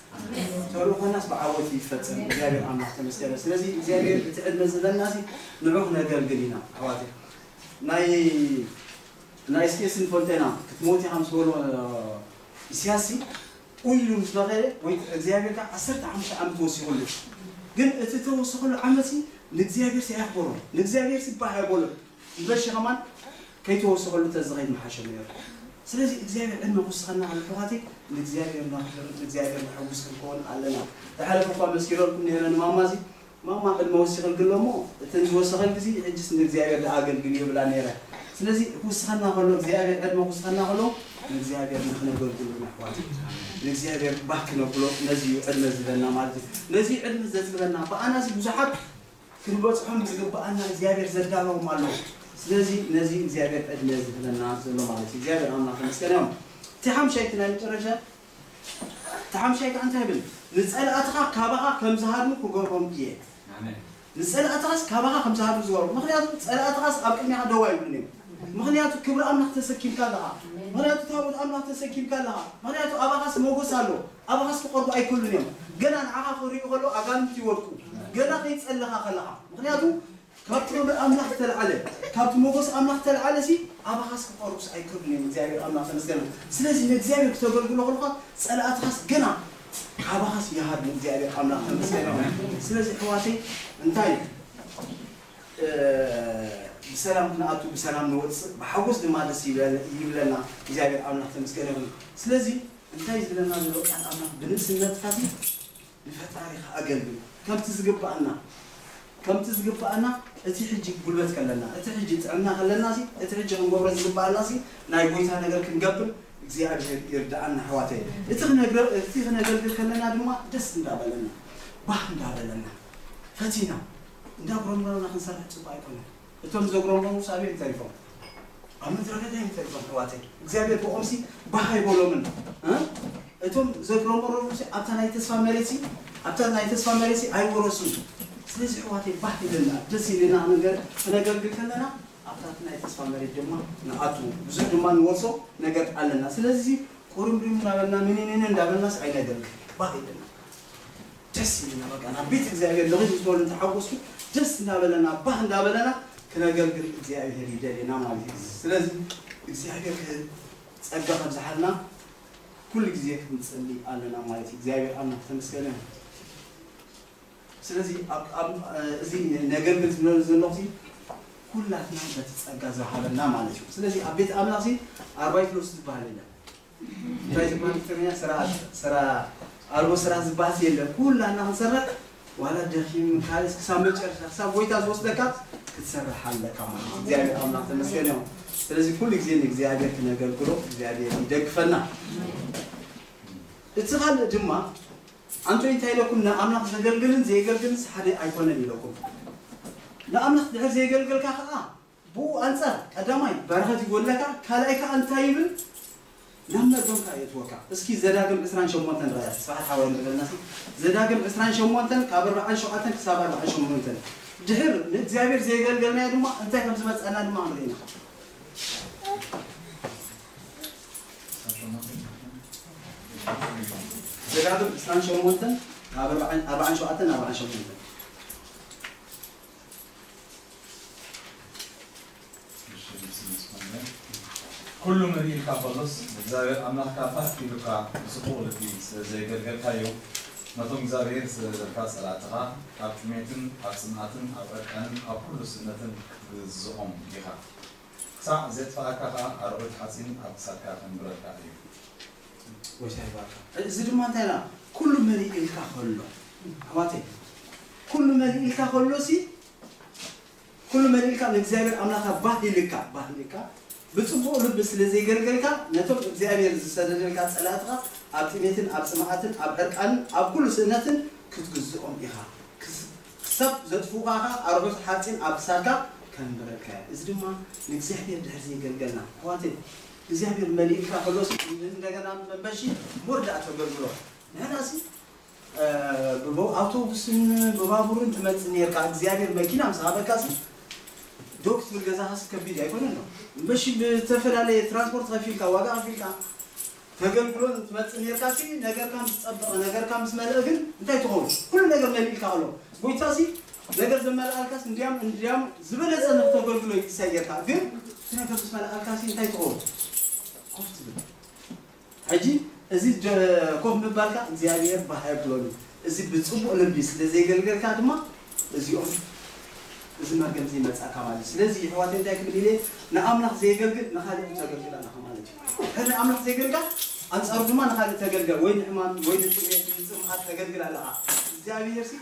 ተልእኾናስ ብዓወት ይፈጸም እግዚኣብሄር ኣምላኽ ተመስገነ ስለዚ እግዚኣብሄር እቲ ዕድመ ዝህበናሲ ንዑ ክነገልግል ኢና ኣሕዋተይ ናይ ናይ እስኬስን ፈልጠና ክትሞት ኢኻ ምስ በሎ ኢስያስሲ ኡይ ኢሉ ምስ በኸየ ወይ ክዓ እግዚኣብሔር ክዓ ዓሰርተ ሓሙሽተ ዓመት ወሲኹሉ ግን እቲ እተወሰኸሉ ዓመትሲ ንእግዚኣብሔርሲ ኣየኽበሮን ንእግዚኣብሔርሲ ባህ ኣየበሎን እምበርሺ ከማን ከይተወሰኸሉ ተዝኸይድ ምሓሸ ነይሩ ስለዚ እግዚኣብሔር ዕድመ ክውስኸና ከሎ ኣሕዋተይ ንእግዚኣብሔር ነኽብር ንእግዚኣብሔር ነሐጉስ ክንከውን ኣለና ዝሓለፈ እኳ መስኪረልኩም ነይረ ንማማዚ ማማ ቅድመ ወሲኸልኪ ኣሎ እሞ እተን ዝወሰኸልኪ ሲ ሕጂስ ንእግዚኣብሔር ድኣ ኣገልግልዮ ይብላ ነይረ ስለዚ ክውስኸና ከሎ እግዚኣብሔር ዕድመ ክውስኸና ከሎ ንእግዚኣብሔር ንክነገልግሎ ኢና ኣሕዋተይ ንእግዚኣብሔር ባህ ክነብሎ ነዚ እዩ ዕድመ ዝህበና ማለት እዩ ነዚ እዩ ዕድመ ዘጽግበና ብኣና እዚ ብዙሓት ክንበጽሖም ዝግብኣና እግዚኣብሔር ዘዳለዎም ኣለዉ ስለዚ ነዚ እግዚኣብሔር ዕድመ ዝህበና ዘሎ ማለት እዩ እግዚኣብሔር ኣምላኽ ተመስገን እዮም እቲ ሓምሻይቲ ናይ መጨረሻ እቲ ሓምሻይ ከኣ እንታይ ይብል? ንጸላእትኻ ካባኻ ከም ዝሃድሙ ክገብሮም እየ። ንጸላእትኻስ ካባኻ ከም ዝሃድሙ ዝገብሮም። ምኽንያቱ ጸላእትኻስ ኣብ ቅድሜኻ ደው ኣይብሉን እዮም። ምኽንያቱ ክብሪ ኣምላኽ ተሰኪምካ ኣለኻ። ምኽንያቱ ታቦት ኣምላኽ ተሰኪምካ ኣለኻ። ምኽንያቱ ኣባኻስ ሞጎስ ኣሎ። ኣባኻስ ክቐርቡ ኣይክእሉን እዮም። ገና ንዓኻ ክርእዩ ከለዉ ኣጋንንቲ ይወድቁ። ገና ከይጸለኻ ከለኻ። ምኽንያቱ ካብ ጥበበ ኣምላኽ ዝተልዓለ ካብቲ ሞጎስ ኣምላኽ ዝተልዓለሲ ኣባኻስ ክቀርቡስ ኣይክእሉን እዮም እግዚኣብሔር ኣምላኽ ተመስገን ስለዚ ንእግዚኣብሔር ክተገልግሎ ከለኻ ጸላእትኻስ ገና ካባኻስ ይሃድሙ እግዚኣብሔር ኣምላኽ ተመስገን ስለዚ ኣሕዋተይ እንታይ ብሰላም ክንኣቱ ብሰላም ንወጽእ ብሓጎስ ድማ ደስ ይብለና እግዚኣብሔር ኣምላኽ ተመስገን ይኹን ስለዚ እንታይ ዝብለና ዘሎ ቃል ኣምላኽ ብንእስነትካሲ ንፈጣሪኻ ኣገልግል ከምቲ ዝግባኣና ከምቲ ዝግባኣና እቲ ሕጂ ጉልበት ከለና እቲ ሕጂ ጥዕና ከለናሲ እቲ ሕጂ ክንገብሮ ዝግባኣናሲ ናይ ጎይታ ነገር ክንገብር እግዚኣብሄር ይርዳኣና ኣሕዋተየ እቲ ክነግረ እቲ ክነገልግል ከለና ድማ ደስ እንዳበለና ባህ እንዳበለና ፈቲና እንዳጉረምረምና ክንሰርሕ ጽቡቅ ኣይኮነን እቶም ዘጉረምረሙ ሳብ'ዮም ተሪፎም ኣብ ምድረ በዳ እዮም ተሪፎም ኣሕዋተይ እግዚኣብሔር ብኦምሲ ባህ ኣይበሎምን እ እቶም ዘጉረመረሙሲ ኣብታ ናይ ተስፋ መሬትሲ ኣብታ ናይ ተስፋ መሬትሲ ኣይወረሱን ስለዚ ኣሕዋተይ ባህ ኢለና ደስ ኢልና ነገር ክነገልግል ከለና ኣብታ እቲ ናይ ተስፋ መሬት ድማ ንኣቱ ብዙሕ ድማ ንወርሶ ነገር ኣለና ስለዚ ቁርምሪም እንዳበልና ምንንን እንዳበልናስ ኣይነገልግል ባህ ኢለና ደስ ኢሉና በቃ ናብ ቤት እግዚኣብሔር ንኽድ ዝበሉ እንተሓጎሱ ደስ እንዳበለና ባህ እንዳበለና ክነገልግል እግዚኣብሔር ይደልየና ማለት እዩ ስለዚ እግዚኣብሔር ጸጋ ከብዝሓልና ኩሉ ግዜ ክንጽሊ ኣለና ማለት እዩ እግዚኣብሔር ኣምላክ ተመስገነ ይሁን ስለዚ እዚ ነገልግል ዝብለሉ ዘለኹ ኩላትና በቲ ጸጋ ዝሃበና ማለት እዩ ስለዚ ኣብ ቤት ኣምላኽ ኣርባይት ሎስ ዝበሃል የለን እንታይ ትብሃል ትግርኛ ስርዓት ስራ ኣልቦ ስርዓት ዝብሃልሲ የለን ኩላና ክንሰርሕ ዋላ ደኪም ካልስ ክሳብ መጨረሻ ክሳብ ጎይታ ዝወስደካ ክትሰርሕ ኣለካ ማለት እግዚኣብሔር ኣምላክ ተመስገን እዮም ስለዚ ኩሉ ግዜ ንእግዚኣብሔር ክነገልግሎ እግዚኣብሔር ይደግፈና እቲ ካልእ ድማ ኣንቶ እንታይ ኢለኩም ንኣምላኽ ዘገልግልን ዘየገልግልንስ ሓደ ኣይኮነን ኢለኩም ንኣምላኽ ድሕር ዘየገልገልካ ከዓ ብኡ ኣንጻር፣ ቀዳማይ፣ በረኸት ይጎድለካ፣ ካልኣይ ከኣ እንታይ ይብል? ናብ መርገም ከኣ የእትወካ። እስኪ ዘዳግም ዕስራን ሸሞንተን ርኣያ፣ ተስፋሓት ሓወይ እንተ በልናሲ፣ ዘዳግም ዕስራን ሸሞንተን ካብ ኣርብዓን ሸውዓተን ክሳብ ኣርብዓን ሸሞንተን፣ ድሕር ንእግዚኣብሄር ዘየገልገልናዮ ድማ እንታይ ከም ዝመጸና ድማ ክንርኢ ኢና። ዘዳግም ዕስራን ሸሞንተን ካብ ኣርብዓን ሸውዓተን ኣርብዓን ሸሞንተን። ኩሉ ምን ኢልካ ከሎስ ንእግዚኣብሔር ኣምላኽካ ፋሕ ኪብልካ ብጽቡቕ ልቢ ስለ ዘየገልገልካዮ ነቶም እግዚኣብሔር ዝደልደልካ ጸላእትኻ ኣብ ጥሜትን ኣብ ጽምኣትን ኣብ ዕርቃንን ኣብ ኩሉ ስእነትን ክትግዝኦም ኢኻ ክሳዕ ዜጥፍኣካ ኸኣ ኣርዑት ሓጺን ኣብ ክሳድካ ከንብረልካ እዩ ጎይታ ይባርካ እዚ ድማ እንታይ ላ ኩሉ መሊእ ኢልካ ከሎ ኣሕዋተይ ኩሉ መሊእ ኢልካ ከሎ ሲ ኩሉ መሊእ ኢልካ ንእግዚኣብሔር ኣምላካ ባህ ኢልካ ባህ ኢልካ ብፅቡቅ ልቢ ስለ ዘይገልገልካ ነቶም እግዚኣብሔር ዝሰደደልካ ፀላእትኻ ኣብ ጥሜትን ኣብ ፅምኣትን ኣብ ዕርቃንን ኣብ ኩሉ ስእነትን ክትግዝኦም ኢኻ ክስ- ክሳብ ዘጥፍኡኻ ኸዓ ኣርዑት ሓፂን ኣብ ክሳድካ ከንብረልካ እየ እዚ ድማ ንእግዚኣብሔር ድሕር ዘይገልገልና ኣሕዋተይ እግዚኣብሔር መሊእካ ከሎሲ እንደገና መመሺ ሞር ደኣ ተገልግሎ ንሕናሲ ብኣውቶቡስን ብባቡርን ትመጽእ ኔርካ እግዚኣብሔር መኪና ምስ ሃበካሲ ዶ ክትብል ገዛኻሲ ከቢድ ኣይኮነን ዶ መሺ ብዝተፈላለየ ትራንስፖርት ከፊልካ ዋጋ ከፊልካ ተገልግሎን ትመጽእ ኔርካሲ ነገርካ ምስ ጸበቐ ነገርካ ምስ መልአ ግን እንታይ ትኸውን ኩሉ ነገር መሊእልካ ከሎ ጎይታሲ ነገር ዘመልኣልካስ እንድያም እንድያም ዝበለጸ ንክተገልግሎ እዩ ዝሰየካ ግን እቲ ነገር ዝመልኣልካሲ እንታይ ትኸውን ኮፍ ትብል ሕጂ እዚ ኮፍ ምባልካ እግዚኣብሔር ባህ ኣይብሎን እዩ እዚ ብፅቡቅ ልቢ ስለ ዘይገልገልካ ድማ እዚኦም እዚ መርገም እዚ ይመጻካ ማለት እዩ ስለዚ ይሕዋት እንታይ ክብል ኢለ ንኣምላኽ ዘየገልግል ንኻልእ ተገልግል ኣለኻ ማለት እዩ ሕሪ ኣምላኽ ዘይገልጋል ኣንጻሩ ድማ ንኻልእ ተገልገል ወይ ንሕማም ወይ ንጥሜት ንጽምኣት ተገልግል ኣለኻ እግዚኣብሔር ሲ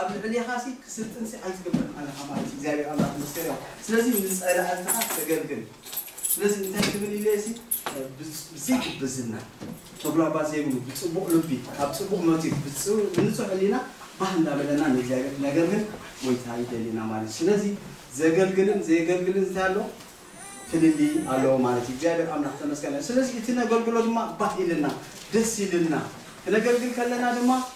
ኣብ ልዕሌኻሲ ክስልጥንሲ ኣይትገብርን ኣለኻ ማለት እዩ እግዚኣብሔር ኣምላኽ ዝመስገን ይኹን ስለዚ ንጸላእትኻ ተገልግል ስለዚ እንታይ ክብል ኢለየሲ ብዘይ ግብዝና ተጉላባት ዘይብሉ ብጽቡቕ ልቢ ካብ ጽቡቕ መቲፍ ብንጹሕ ሕሊና ባህ እንዳበለና ንእግዚኣብሔር ክነገልግል ጎይታ ይደልየና ማለት እዩ ስለዚ ዘገልግልን ዘየገልግልን እንታይ ኣሎ ፍልልይ ኣለዎ ማለት እዩ እግዚኣብሔር ኣምላኽ ተመስገን ስለዚ እቲ ነገልግሎ ድማ ባህ ኢልና ደስ ኢልና ክነገልግል ከለና ድማ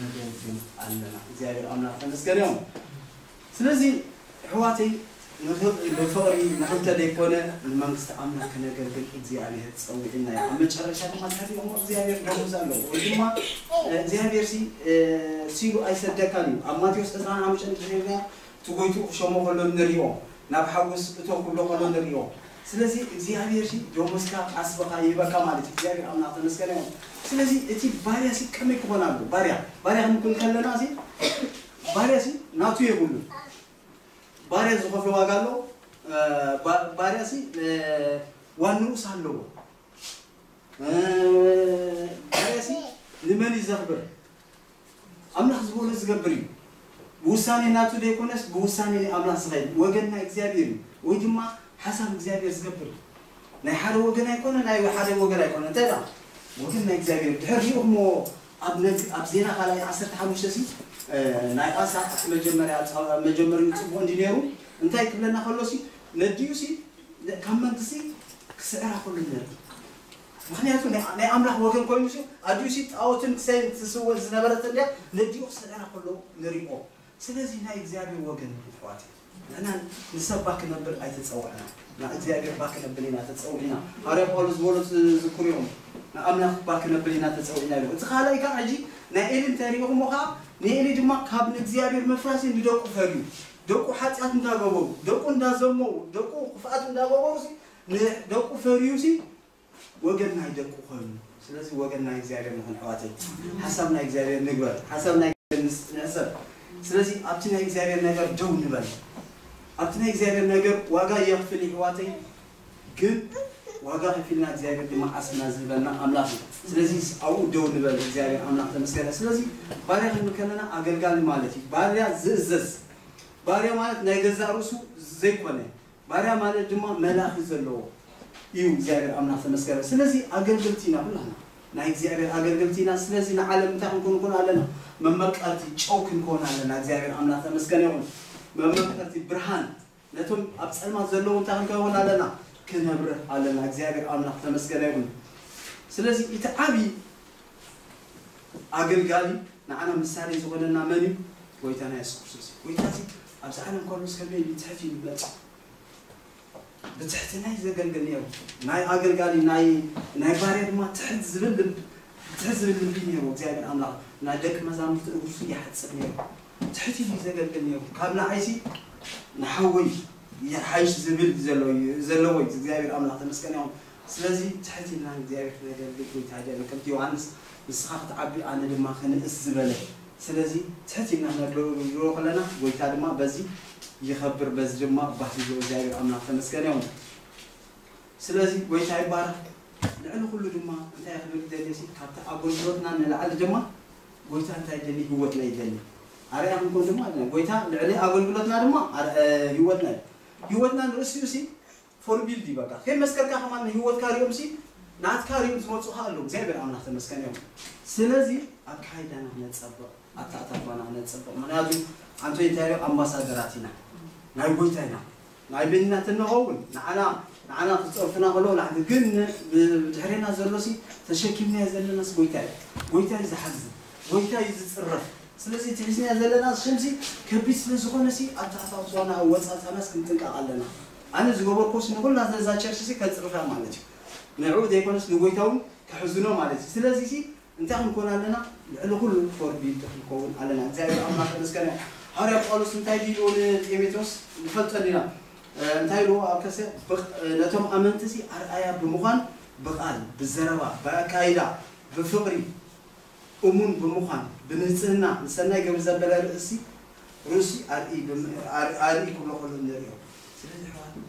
ነገልግል ኣለና እግዚኣብሔር ኣምላክ ተመስገን ይኩን ስለዚ እሕዋተይ ንክብሪ ብፍቅሪ ንክልተ ደይኮነ ንመንግስቲ ኣምላክ ክነገልግል እግዚኣብሔር ጸዊዕና እዩ ኣብ መጨረሻ ድማ ትፈልጥዎ እግዚኣብሔር ደሞዝ ኣለዎ ወይ ድማ እግዚኣብሔር ሲ ሲሉ ኣይሰደካን እዩ ኣብ ማቴዎስ ዕስራን ሓሙሽተን እንተሪእናዮ ትጎይቱ ክሾሞ ከሎ ንሪኦ ናብ ሓጎስ እቶ ክብሎ ከሎ ንሪኦ ስለዚ እግዚኣብሔር ሲ ዶሞዝካ ቃስ በካ ይህበካ ማለት እዩ እግዚኣብሔር ኣምላክ ተመስገነ ይኩን ስለዚ እቲ ባርያ ሲ ከመይ ክኮን ኣለዎ ባርያ ባርያ ክንኩን ከለና ሲ ባርያ ሲ ናቱ የብሉን ባርያ ዝከፍሎ ዋጋ ኣሎ ባርያ ሲ ዋንኡስ ኣለዎ ባርያ ሲ ንመን እዩ ዘክብር ኣምላኽ ዝበሎ ዝገብር እዩ። ብውሳኔ ናቱ ዘይኮነስ ብውሳኔ ናይ ኣምላኽ ዝኸይድ ወገን ናይ እግዚኣብሔር እዩ ወይ ድማ ሓሳብ እግዚኣብሔር ዝገብር እዩ። ናይ ሓደ ወገን ኣይኮነን ናይ ሓደ ወገን ኣይኮነን እንታይ ደኣ ወገን ናይ እግዚኣብሔር ድሕር ሪእኹሞ ኣብ ነግ ኣብ ዜና ካልኣይ ዓሰርተ ሓሙሽተ ሲ ናይ ኣሳ እቲ መጀመርያ መጀመሪኡ ጽቡቕ እንዲ ነይሩ እንታይ ክብለና ከሎ ሲ ነዲኡ ሲ ካብ መንግስቲ ክስዕራ ከሎ ነር ምኽንያቱ ናይ ናይ ኣምላኽ ወገን ኮይኑሲ ኣዲኡሲ ጣኦትን ክሳይን ትስወ ዝነበረት እንድያ ነዲኡ ክሰደና ከሎ ንሪኦ ስለዚ ናይ እግዚኣብሔር ወገን እዩ የሕዋተይ ንሕና ንሰባ ክነብል ኣይተጸዋዕናን ን እግዚኣብሔር እባ ክነብል ኢና ተጸዊዕና ሃዋርያ ጳውሎስ ዝበሎ ትዝክሩኢኹም ን ኣምላኽ እባ ክነብል ኢና ተጸዊዕና ኢሉ እቲ ካልኣይ ከኣ ሕጂ ናይ ኤሊ እንተ ሪኢኹሞ ከኣ ንኤሊ ድማ ካብ ንእግዚኣብሔር ምፍራሲ ንደቁ ፈልዩ ደቁ ሓጢኣት እንዳገበሩ ደቁ እንዳዘመዉ ደቁ ክፍኣት እንዳገበሩሲ ንደቁ ፈርዩሲ ወገን ናይ ደቁ ኮይኑ ስለዚ ወገን ናይ እግዚኣብሔር ንኹን ኣሕዋተይ ሓሳብ ናይ እግዚኣብሔር ንግበር ሓሳብ ናይ እግዚኣብሔር ንዕዘብ ስለዚ ኣብቲ ናይ እግዚኣብሔር ነገር ደው ንበል ኣብቲ ናይ እግዚኣብሔር ነገር ዋጋ የኽፍል ይሕዋተይ ግን ዋጋ ከፊልና እግዚኣብሔር ድማ ዓስብና ዝህበና ኣምላኽ እዩ ስለዚ ኣብኡ ደው ንበል እግዚኣብሔር ኣምላኽ ተመስገነ ስለዚ ባርያ ክንብል ከለና ኣገልጋሊ ማለት እዩ ባርያ ዝእዘዝ ባርያ ማለት ናይ ገዛእ ርእሱ ዘይኮነ ባርያ ማለት ድማ መላኺ ዘለዎ እዩ እግዚኣብሔር ኣምላክ ተመስገረ ስለዚ ኣገልገልቲ ኢና ኩላህና ናይ እግዚኣብሔር ኣገልገልቲ ኢና ስለዚ ንዓለም እንታይ ክንኮን ኮን ኣለና መመቀርቲ ጨው ክንኮን ኣለና እግዚኣብሔር ኣምላክ ተመስገነ ይኹን መመቀርቲ ብርሃን ነቶም ኣብ ጸልማት ዘለዉ እንታይ ክንከውን ኣለና ክነብርህ ኣለና እግዚኣብሔር ኣምላክ ተመስገነ ይኹን ስለዚ እቲ ዓቢ ኣገልጋሊ ንዓና ምሳሌ ዝኾነና መን እዩ ጎይታና የሱስ ክርስቶስ እዩ ጎይታ ኣብዚ ዓለም ጳውሎስ ከመይ ኢሉ ይጽሕፍ እዩ ንገልጾ ብትሕትና እዩ ዘገልግል ነይሩ ናይ ኣገልጋሊ ናይ ናይ ባርያ ድማ ትሕት ዝብል ልብ ትሕት ዝብል ልቢ ነይሩ እግዚኣብሔር ኣምላኽ ናይ ደቂ መዛሙርቲ እግርሱ ይሓጽብ ነይሩ ትሕት ኢሉ እዩ ዘገልግል ነይሩ ካብ ንዓይሲ ንሓወይ ይሓይሽ ዝብል ዘሎ ዘለዎ እዩ እግዚኣብሔር ኣምላኽ ተመስገን ይኹን ስለዚ ትሕት ኢልና ንእግዚኣብሔር ክነገልግል ጎይታ ይደሊ ከምቲ ዮሃንስ ንስኻ ክትዓቢ ኣነ ድማ ክንእስ ዝበለ ስለዚ ትሕት ኢልና ክነገልግሎ ከለና ጎይታ ድማ በዚ ይኸብር በዚ ድማ ባህ ይብሎ እግዚኣብሔር ኣምላክ ተመስገን ዮን ስለዚ ጎይታ ይባረክ ልዕሊ ኩሉ ድማ እንታይ እየ ክብል ዝደሊ ሲ ካብቲ ኣጎልግሎትና ንላዕሊ ድማ ጎይታ እንታይ ይደሊ ህይወትና ይደሊ ኣርያ ክንኮን ድማ ጎይታ ልዕሊ ኣጎልግሎትና ድማ ህይወትና እዩ ህይወትና ንርእሲኡ ሲ ፎርቢልድ እዩ በቃ ከይ መስከርካ ከማን ንሂወትካ ሪኦም ሲ ናትካ ሪኦም ዝመጹካ ኣለዉ እግዚኣብሔር ኣምላክ ተመስገን እዮም ስለዚ ኣካይዳና ክነጸብቅ ኣታኣታትዋና ክነጸብቅ ምክንያቱ ኣንቶይ እንታይ ኢሉ ኣምባሳደራት ኢና ናይ ጎይታ ኢና ናይ በይንና ተንኸውን ንዓና ንዓና ክጸርፉና ከለዉ ላዕሊ ግን ብድሕሬና ዘሎ ሲ ተሸኪምናዮ ዘለና ሲ ጎይታ እዩ ጎይታ እዩ ዝሓዝን ጎይታ እዩ ዝጽረፍ ስለዚ እቲ ሒዝናዮ ዘለና ሽም ሲ ከቢድ ስለ ዝኮነ ሲ ኣታኣታትዋና ኣወጻጽኣናስ ክንጥንቀቅ ኣለና ኣነ ዝገበርክዎስ ንኹላትና እዛ ቸርችሲ ከጽርፋ ማለት እዩ። ንዕኡ ዘይኮነስ ንጎይታ እውን ከሕዝኖ ማለት እዩ። ስለዚሲ እንታይ ክንኮን ኣለና? ልዕሊ ኩሉ ፎርቢልቲ ክንከውን ኣለና። እግዚኣብሔር ኣምላኽ ተመስገነ ይኹን። ሃዋርያ ጳውሎስ እንታይ ድዩ ኢልዎ ንጤሜቴዎስ ንፈልጦ እንዲና። እንታይ ኢልዎ ኣብ ከሰ ነቶም ኣመንቲሲ ኣርኣያ ብምዃን ብቃል፣ ብዘረባ፣ ብኣካይዳ፣ ብፍቕሪ፣ እሙን ብምዃን ብንጽህና ንሰናይ ገብሪ ዘበለ ርእሲ ርእሲ ኣርእይ ብም ኣርእይ ክብሎ ከሎ ንርእዮ። ስለዚ ኣሕዋትና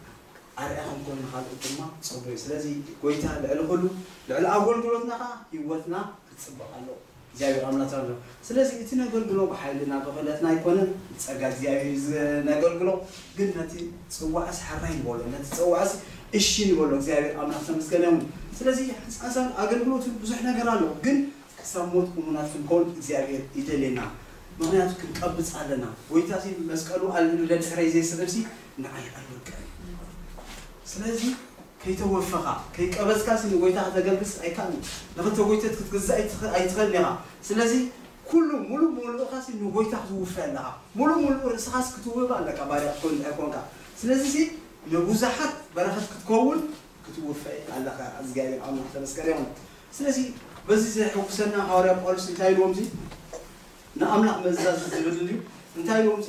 ኣርኣያ ክንኮን ንኻልኦት ድማ ጸቡይ እዩ። ስለዚ ጎይታ ልዕሊ ኩሉ ልዕሊ ኣጎልጉሎትና ከኣ ሂወትና ክጽብቕ ኣለዎ። እግዚኣብሔር ኣምላክ ኣሎ። ስለዚ እቲ ነገልግሎ ብሓይልና ብኽእለትና ኣይኮነን ብጸጋ እግዚኣብሔር እዩ ዝ ነገልግሎ። ግን ነቲ ጽዋዕስ ሐራይ ንበሎ ነቲ ጸዋዕስ እሺ ንበሎ እግዚኣብሔር ኣምላክ ተመስገነ ይሁን ስለዚ ሕንጻጻን ኣገልግሎትን ብዙሕ ነገር ኣሎ ግን ክሳብ ሞት እሙናት ክንኮን እግዚኣብሔር ይደልየና ምክንያቱ ክንቀብጽ ኣለና ጎይታሲ መስቀሉ ኣልዒሉ ደድሕረይ ዘይስዕብሲ ንዓይ ኣይወድቅን እዩ ስለዚ ከይተወፈኻ ከይቀበጽካሲ ንጎይታ ከተገልግልሲ ኣይካኣልን ንክልተ ጎይቶት ክትግዛእ ኣይትክእልን ኢካ ስለዚ ኩሉ ሙሉእ ሙሉእካሲ ንጎይታ ክትውፈ ኣለካ ሙሉእ ሙሉእ ርእስካሲ ክትውህብ ኣለካ ባርያ ክትኮን እንድሕር ኮንካ ስለዚሲ ንቡዛሓት በረከት ክትከውን ክትውፈ ኣለካ ኣዝጋብሄር ኣምላክ ተመስገን ይኩን ስለዚ በዚ ዘሕጉሰና ሃዋርያ ጳውሎስ እንታይ ኢልዎምሲ ንኣምላክ መእዛዝ ዝብል ድዩ እንታይ ኢልዎምሲ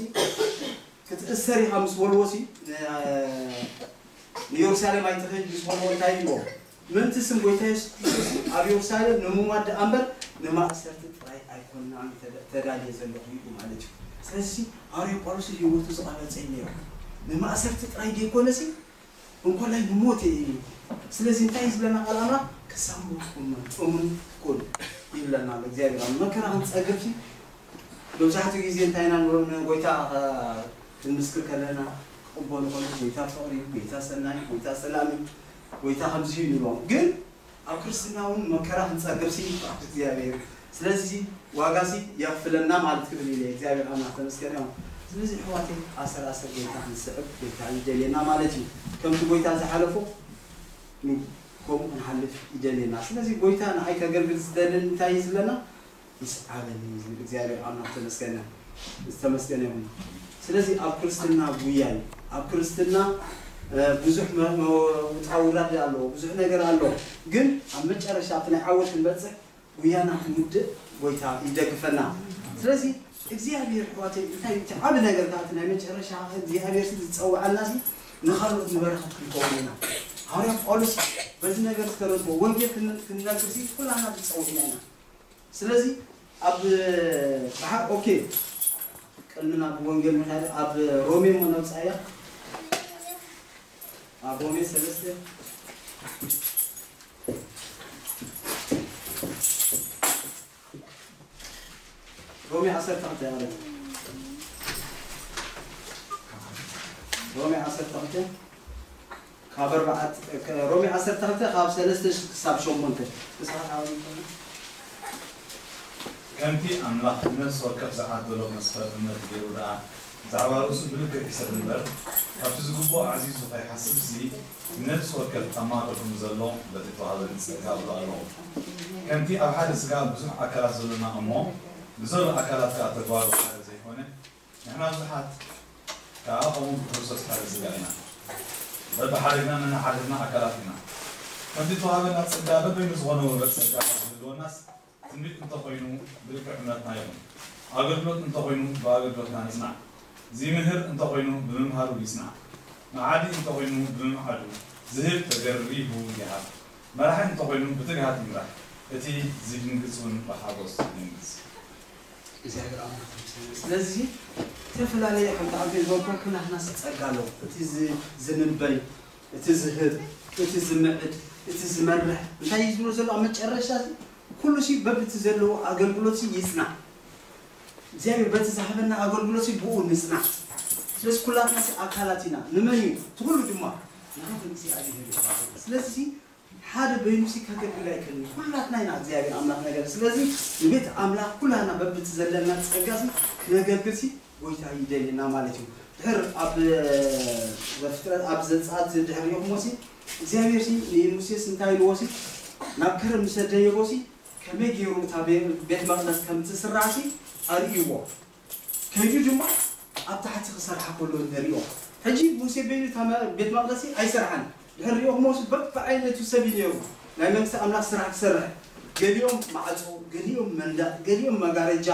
ክትእሰር ኢካ ምስ በልዎሲ ን ንዮርሳሌም ኣይትክድ ምስ በልዎ እንታይ ኢልዎ ምእንቲ ስም ጐይታ የሱስ ክርስቶስ ኣብ የሩሳሌም ንምሟት ደኣ እምበር ንማእሰርቲ ጥራይ ኣይኰንናን ተዳልየ ዘለኹ ኢሉ ማለት እዩ። ስለዚሲ ሃዋርያ ጳውሎስ ንህይወቱ ዝቘረጸ እዩ ነይሩ። ንማእሰርቲ ጥራይ ደይኰነሲ እንኮላይ ንሞት እየ ኢሉ። ስለዚ እንታይ እዩ ዝብለና ቃል ኣምላኽ? ክሳብ ሞት ቍነኑ፣ እሙን ኩን ይብለና ኣሎ እግዚኣብሄር ኣምላኽ። መከራ ክንጸግብሲ መብዛሕትኡ ግዜ እንታይ ኢና ንብሎ ንጐይታ ክንምስክር ከለና ክቕበሎ ከሎ ጐይታ ፍቕሪ እዩ፣ ጐይታ ሰናይ እዩ፣ ጐይታ ሰላም እዩ፣ ጎይታ ከምዚ እዩ ንብሎም ግን ኣብ ክርስትና ውን መከራ ክንጸግብ ሲ ፍቃድ እግዚኣብሔር ስለዚ ሲ ዋጋ ሲ የክፍለና ማለት ክብል ኢለ እግዚኣብሔር ኣምላክ ተመስገን እዮም ስለዚ ኣሕዋተይ ኣሰር ኣሰር ጎይታ ክንስዕብ ጎይታ ይደልየና ማለት እዩ ከምቲ ጎይታ ዝሓለፎ ን ከምኡ ክንሓልፍ ይደልየና ስለዚ ጎይታ ንዓይ ከገልግል ዝደልን እንታይ እዩ ዝብለና ይስዓበኒ እዩ ዝብል እግዚኣብሔር ኣምላክ ተመስገነ ዝተመስገነ ይኹን ስለዚ ኣብ ክርስትና ጉያ እዩ ኣብ ክርስትና ብዙሕ ውጣውራድ ኣለዎ ብዙሕ ነገር ኣሎ ግን ኣብ መጨረሻ ኣብቲ ናይ ዓወት ክንበፅሕ ጉያና ክንውድእ ጎይታ ይደግፈና ስለዚ እግዚኣብሔር ኣሕዋተይ እንታይ እቲ ዓብ ነገር ከዓ እቲ ናይ መጨረሻ እግዚኣብሔር ዝፀዋዐና ሲ ንካልኦት ንበረኸት ክንከውን ኢና ሃዋርያ ጳውሎስ በዚ ነገር ዝተረድቦ ወንጌል ክንነግር ሲ ኩላና ተፀዊዕና ኢና ስለዚ ኣብ ብሓ ኦኬ ቅድሚ ናብ ወንጌል ምካድ ኣብ ሮሜ እሞ ነብጻያ ኣብ ሮሜ ሰለስተ ሮሜ ዓሰርተ ክልተ ያለ ሮሜ ዓሰርተ ክልተ ካብ ኣርባዕተ፣ ሮሜ ዓሰርተ ክልተ ካብ ሰለስተ ክሳብ ሸሞንተ፣ መጽሓፍ ዓዋዊት ከኣ። ከምቲ ኣምላኽ ንነፍሲ ወከፍ ዝዓደሎ መስፈር እምነት ገይሩ ደኣ ብዛዕባ ርእሱ ብልክዕ ይሕሰብ እምበር፣ ካብቲ ዝግብኦ ኣዕዚዙ ኸይሓስብሲ፣ ንነፍሲ ወከፍ ኣብ ማእከል ከም ዘሎ በቲ እተዋህበ ንጸጋ እብሎ ኣለኹ። ከምቲ ኣብ ሓደ ስጋ ብዙሕ ኣካላት ዘሎና እሞ ብዘሎ ኣካላት ከኣ ተጓሩ ሓደ ዘይኰነ፣ ንሕና ብዙሓት ከኣ ከምኡ ብክርስቶስ ሓደ ስጋ ኢና፣ በብሓደግና ነንሓድሕድና ኣካላት ኢና። ከምቲ እተዋህበና ጸጋ በበይኑ ዝኾነ ወገን ጸጋ ካብ ዝህልወናስ፣ ትንቢት እንተ ኾይኑ ብልክዕ እምነትና ይኹን፣ ኣገልግሎት እንተ ኾይኑ ብኣገልግሎትና ንጽናዕ፣ ዚምህር እንተ ኾይኑ ብምምሃሩ ይጽናዕ፣ መዓዲ እንተ ኾይኑ ብምምዓዱ፣ ዚህብ ተገሪሁ ይሃብ፣ መራሒ እንተ ኾይኑ ብትግሃት ይምራሕ፣ እቲ ዚድንግጽውን ብሓጐስ ይድንግጽ። እግዚኣብሔር ኣምላክ ይመስገን ስለዚ ዝተፈላለየ ሓንቲ ኣቤል ዘወከልኩ ናህናስ ጸጋ ኣሎ እቲ ዝንበይ እቲ ዝህብ እቲ ዝምዕድ እቲ ዝመርሕ እንታይ እዩ ዝብሎ ዘሎ ኣብ መጨረሻ እዚ ኩሉ ሲ በብቲ ዘለዎ ኣገልግሎት ሲ ይጽናዕ እግዚኣብሔር በቲ ዝሃበና ኣገልግሎት ሲ ብኡ ንጽናዕ ስለዚ ኩላትና ሲ ኣካላት ኢና ንመን እዩ ትኩሉ ድማ ንሃብ እግዚኣብሔር እዩ ስለዚ ሓደ በይኑሲ ከገልግል ኣይክእልን እዩ ኩላትና ኢና እግዚኣብሔር ኣምላክ ነገልግል ስለዚ ንቤት ኣምላክ ኩላትና በብቲ ዘለና ጸጋሲ ክነገልግልሲ ጎይታ ይደልየና ማለት እዩ ድሕር ኣብ ዘፍጥረት ኣብ ዘጸኣት ድሕር ሪኢኩሞሲ እግዚኣብሔርሲ ንሙሴስ እንታይ ኢልዎሲ ናብ ከረን ምስ ደየቦሲ ከመይ ገይሩ እታ ቤት መቅደስ ከምትስራዕሲ ኣርእይዎ ከይዱ ድማ ኣብ ታሕቲ ክሰርሓ ከሎ ንሪኦ ሕጂ ሙሴቬኒ እታ ቤት መቅደሲ ኣይሰርሓን ድሕር ሪኦክሞስ በብዓይነቱ ሰብ እዩ ነይሩ ናይ መንግስቲ ኣምላክ ስራሕ ክሰርሕ ገሊኦም ማዕጾ ገሊኦም መንደቅ ገሊኦም መጋረጃ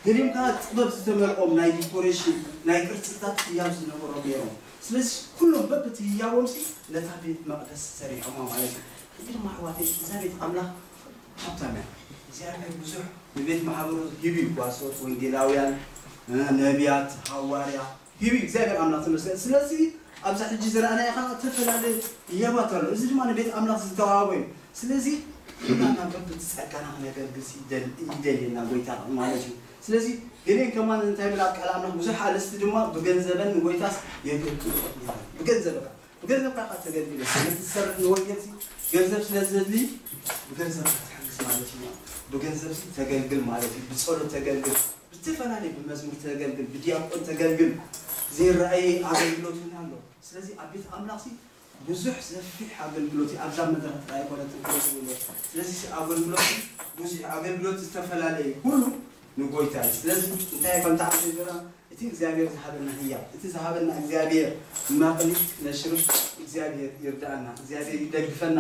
ገሊኦም ከኣ ጥበብ ዝተመልኦም ናይ ዲኮሬሽን ናይ ቅርጽታት ህያብ ዝነበሮም ነይሮም ስለዚ ኩሎም በብቲ ህያቦምሲ ነታ ቤት መቅደስ ሰሪሖማ ማለት እዩ ሕጂ ድማ ኣሕዋተይ እዛ ቤት ኣምላክ ሃብታም እያ። እግዚኣብሔር ብዙሕ ንቤት ማሕበሩ ሂቡ እዩ ጓሶት ወንጌላውያን ነብያት ሃዋርያ ሂቡ እዩ እግዚኣብሔር ኣምላክ ተመስገን ስለዚ ኣብዚ ሕጂ ዝረኣናዮ ከኣ እተፈላለየ ህያባት ኣሎ እዚ ድማ ንቤት ኣምላክ ዝተዋህቦ እዩ ስለዚ ኩላትና በብቲ ጸጋና ክነገልግልሲ ይደልየና ጎይታ ማለት እዩ ስለዚ ገሌን ከማን እንታይ ይብል ኣብ ቃል ኣምላክ ብዙሕ ኣልስቲ ድማ ብገንዘበን ንጎይታስ የገልግልኦ ይብል ብገንዘበካ ብገንዘብካ እካ ተገልጊለ ሰነድ ዝሰርሕ ንወንጌልሲ ገንዘብ ስለ ዘድሊ ብገንዘብካ ትሕግዝ ማለት እዩ ብገንዘብሲ ተገልግል ማለት እዩ ብጸሎት ተገልግል ብዝተፈላለየ ብመዝሙር ተገልግል ብድያቆን ተገልግል ዘይረኣየ ኣገልግሎት እውን ኣሎ ስለዚ ኣብ ቤት ኣምላኽሲ ብዙሕ ሰፊሕ ኣገልግሎት እዩ ኣብዛ መድረኽ ጥራይ ኣይኮነትን ክበዝብሎ ስለዚ ኣገልግሎት ብዙሕ ኣገልግሎት ዝተፈላለየ ኩሉ ንጎይታ እዩ ስለዚ እንታይ ከምታዓዘዘና እቲ እግዚኣብሔር ዝሃበና ህያብ እቲ ዝሃበና እግዚኣብሔር ማቅሊት ነሽርፍ እግዚኣብሔር ይርዳኣና እግዚኣብሔር ይደግፈና።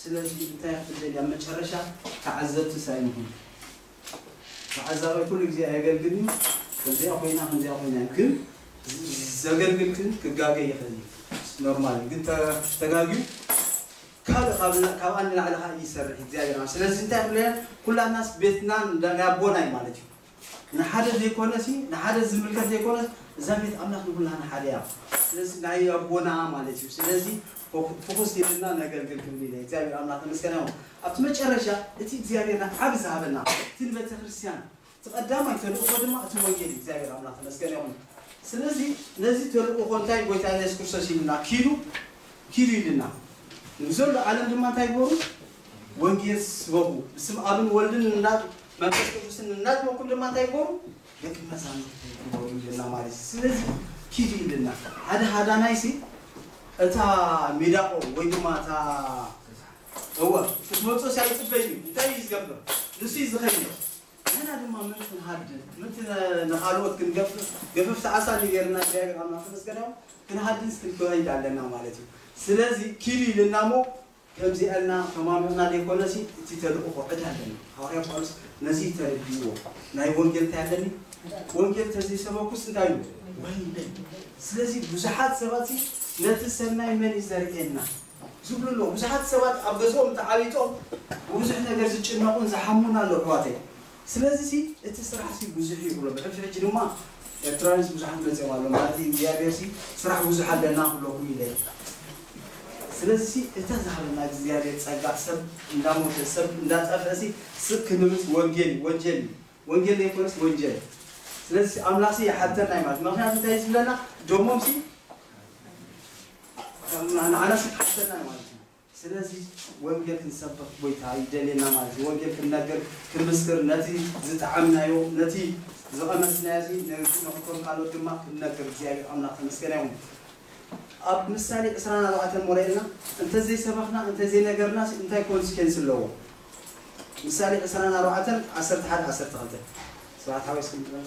ስለዚ እንታይ እያ ትደሊ? ኣብ መጨረሻ ተዓዘብቲስ ኣይንኹን። ተዓዛባይ ኩሉ ግዜ ኣየገልግልን እዩ። ከምዚኣ ኮይና ከምዚኣ ኮይና እዩ። ግን ዘገልግል ግን ክጋገ ይኽእል እዩ። ኖርማል እዩ። ግን ተጋግዩ ካልእ ካብኣ ንላዕሊ ከኣ ይሰርሕ እዩ እግዚኣብሔር። ስለዚ እንታይ እያ ትብለና? ኩላትናስ ቤትናን ናይ ኣቦና እዩ ማለት እዩ። ንሓደ ዘይኮነሲ ንሓደ ዝምልከት ዘይኮነስ እዛ ቤት ኣምላኽ ንኹላህና ሓደ እያ ስለዚ ናይ ኣቦና ማለት እዩ ስለዚ ፎኩስ ኢልና ነገልግል ክብል ኢለ እግዚኣብሔር ኣምላኽ ተመስገን ይኹን ኣብቲ መጨረሻ እቲ እግዚኣብሔር ንዓቢ ዝሃበና እቲ ንቤተክርስትያን እቲ ቀዳማይ ተልእኾ ድማ እቲ ወንጌል እዩ እግዚኣብሔር ኣምላኽ ተመስገን ይኹን ስለዚ ነዚ ተልእኾ እንታይ ጎይታ ኢየሱስ ክርስቶስ ኢሉና ኪዱ ኪዱ ኢሉና ንዘሎ ዓለም ድማ እንታይ ግበሩ ወንጌል ስበኹ ብስም ኣብን ወልድን እና መንፈስ ቅዱስን እናጥመኩም ድማ እንታይ ግበሩ ደቂ መዛሙርቲ ግበሩ ይብለና ማለት እዩ ስለዚ ኪዱ ይብለና ሓደ ሃዳናይ ሲ እታ ሜዳቆ ወይ ድማ እታ እወ ክትመፅኦ ሲ ኣይፅበይ እዩ እንታይ እዩ ዝገብር ንሱ እዩ ዝኸይድ ንሕና ድማ ምን ክንሃድን ምት ንካልኦት ክንገፍፍ ገፈፍቲ ዓሳ ንገርና እግዚኣብሔር ኣምላክ ተመስገናዮ ክንሃድንስ ክንከይድ ኣለና ማለት እዩ ስለዚ ኪዱ ይብለና እሞ ከምዚ ኣልና ተማሚቕና ዘይኮነሲ እቲ ተልእኾ ዕዳ ኣለኒ። ሃዋርያ ጳውሎስ ነዚ ተረዲእዎ ናይ ወንጌል እንታይ ኣለኒ ወንጌል ተዘይሰበኩስ እንታይ ኢሉ ወይለይ። ስለዚ ብዙሓት ሰባትሲ ነቲ ሰናይ መን እዩ ዘርእየና ዝብሉ ኣለዉ። ብዙሓት ሰባት ኣብ ገዝኦም ተዓቢጦም ብብዙሕ ነገር ዝጭነቑን ዝሓሙን ኣለዉ ኣሕዋተይ። ስለዚሲ እቲ ስራሕሲ ብዙሕ እዩ ክብሎ ብሕጂ ሕጂ ድማ ኤርትራውያንሲ ብዙሓት መጺኦም ኣለው ማለት እግዝኣብሄርሲ ስራሕ ብዙሕ ኣለና ክብለኩም ኢለ እዩ ስለዚሲ እታ ዝሃበና እግዝኣብሄር ጸጋ ሰብ እንዳሞተ ሰብ እንዳጠፍእሲ ስቅ ክንብልሲ ወንጌል እዩ ወንጀል እዩ ወንጌል ዘይኮነስ ወንጀል ስለዚሲ ኣምላክሲ ይሓተና እዩ ማለት ምክንያቱ እንታይ እዩ ዝብለና ደሞምሲ ንዓናሲ ክሓተና እዩ ማለት እዩ። ስለዚ ወንጌል ክንሰብኽ ጎይታ ይደልየና ማለት እዩ። ወንጌል ክንነግር ክንምስክር ነቲ ዝጠዓምናዮ ነቲ ዝቐመስናዮ እዚ ነቶም ካልኦት ድማ ክንነግር እግዚኣብሔር ኣምላኽ ተመስገነ ይኹን። ኣብ ምሳሌ ዕስራን ኣርባዕተን እሞ ርኤልና እንተዘይሰበኽና እንተዘይነገርናስ እንታይ ኮንስኬንስ ኣለዎ? ምሳሌ ዕስራን ኣርባዕተን ዓሰርተ ሓደ ዓሰርተ ክልተ ስብሓት ሓወይ እስኪ ንበል።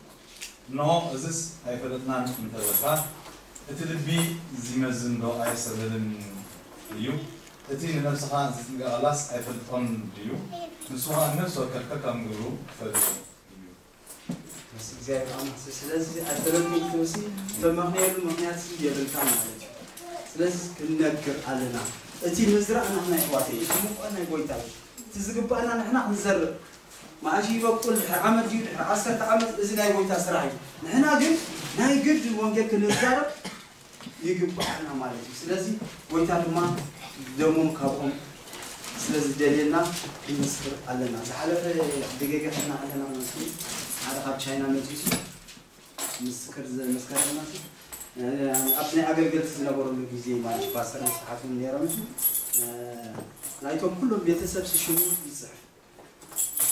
እንሆ እዝስ ኣይፈለጥናን እንተ በልካ፣ እቲ ልቢ ዚመዝንዶ ኣየስተብህልን እዩ? እቲ ንነፍስኻ ዚጥንቀቐላስ ኣይፈልጦን ድዩ? ንሱ ኸኣ ንነፍሲ ወከፍ ከከም ግብሩ ኪፈልጦ እዩ። ምስ እግዚኣብሔር ኣምላኽ ስለዚ ኣይፈለጥኩን ክትብልሲ እተማኽንየሉ ምኽንያትሲ የብልካን ማለት እዩ። ስለዚ ክንነግር ኣለና እቲ ምዝራእ ናህና የሕዋተይ እቲ ምቋን ናይ ጎይታ እዩ። እቲ ዝግብኣና ንሕና ክንዘርእ መኣስ እዩ ይበቁል ድሕሪ ዓመት ድዩ ድሕሪ ዓሰርተ ዓመት እዚ ናይ ጎይታ ስራሕ እዩ ንሕና ግን ናይ ግድን ወንጌል ክንዛረብ ይግብኣና ማለት እዩ ስለዚ ጎይታ ድማ ደሞም ካብኦም ስለ ዝደልየና ክንምስክር ኣለና ዝሓለፈ ደገገ ከና ኣለና ማለት እዩ ሓደ ካብ ቻይና መጺሱ ምስክር ዘመስከረና እዩ ኣብቲ ናይ ኣገልገልቲ ዝነበረሉ ግዜ ማለት ፓስተር መስሓትን ነይሮም ናይቶም ኩሎም ቤተሰብ ሽሙ ይፅሕፍ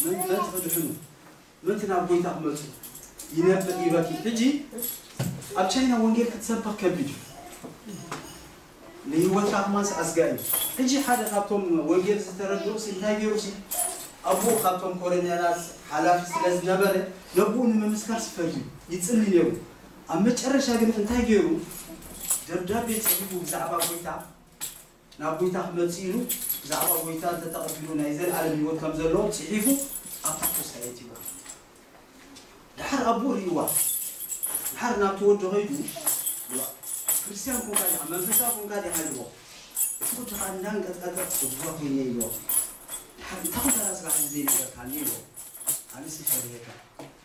መን መን ትክድሕኑ ምእንቲ ናብ ጎይታ ክመጹ ይነብዕ ይበኪ ሕጂ ኣብ ቻይና ወንጌል ክትሰብኽ ከቢድ እዩ ንህይወትካ ክማንስ ኣስጋኢ እዩ ሕጂ ሓደ ካብቶም ወንጌል ዝተረድኡ ሲ እንታይ ገይሩ ሲ ኣቡኡ ካብቶም ኮረኔላት ሓላፊ ስለ ዝነበረ ነቡኡ ንምምስካር ሲ ፈርዩ ይጽሊ ነይሩ ኣብ መጨረሻ ግን እንታይ ገይሩ ደብዳቤ ጽሒፉ ብዛዕባ ጎይታ ናብ ጐይታ ክመጽእ ኢሉ ብዛዕባ ጐይታ እንተ ተቐቢሉ ናይ ዘለኣለም ህይወት ከም ዘለዎ ጽሒፉ ኣብ ታሕቶስ ኣየትይዎ። ደሓር ኣቦኡ ርእይዋ ደሓር ናብቲ ወዱ ከይዱ ክርስትያን ኮንካ ዲኻ መንፈሳዊ ኮንካ ዲኻ ኢልዎ እቲ ወዲ ከኣ እንዳንቀጥቀጠ እግዋ ኮይነ ኢልዎ ደሓር እንታይ ኮንካ ዳኣ ጽባሕ እዚ ዘይነገርካኒ ኢልዎ ኣነስ ይፈለየካ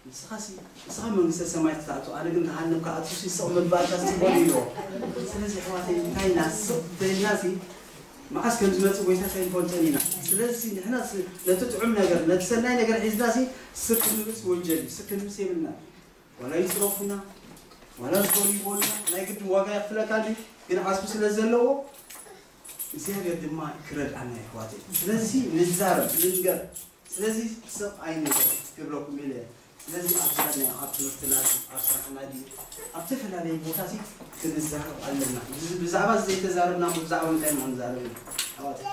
ንስኻሲ ንስኻ መንግስተ ሰማይ ትትኣቱ ኣነ ግን ገሃነም ክኣቱሲ ስቕ ምባልካስ ጽቡቕ ድዩ ኢልዎ ስለዚ ኣሕዋተይ እንታይ ኢና ስቕ ተይልናሲ መዓስ ከም ዝመጽእ ጎይታስ ኣይንፈልጦን ኢና ስለዚሲ ንሕና ነቲ ጥዑም ነገር ነቲ ሰናይ ነገር ሒዝናሲ ስቅ ክንብልሲ ወንጀል እዩ ስቅ ክንብልሲ የብልናን ዋላ ይጽረፉና ዋላ ዝኾኑ ይበሉና ናይ ግድን ዋጋ የኽፍለካ ድዩ ግን ዓስቢ ስለ ዘለዎ እግዚኣብሔር ድማ ክረድኣና የሕዋተይ ስለዚሲ ንዛረብ ንንገር ስለዚ ስቕ ኣይንበል ክብለኩም ኢለ ስለዚ ኣብ ዝያድና ኣብ ትምህርትና ድዩ ኣብ ስራሕና ድዩ ኣብ ተፈላለየ ቦታ ሲ ክንዛረብ ኣለና ብዛዕባ እዚ ዘይተዛረብና እሞ ብዛዕባ ምንታይ ኢና ክንዛረብ ኢና ኣሕዋተይ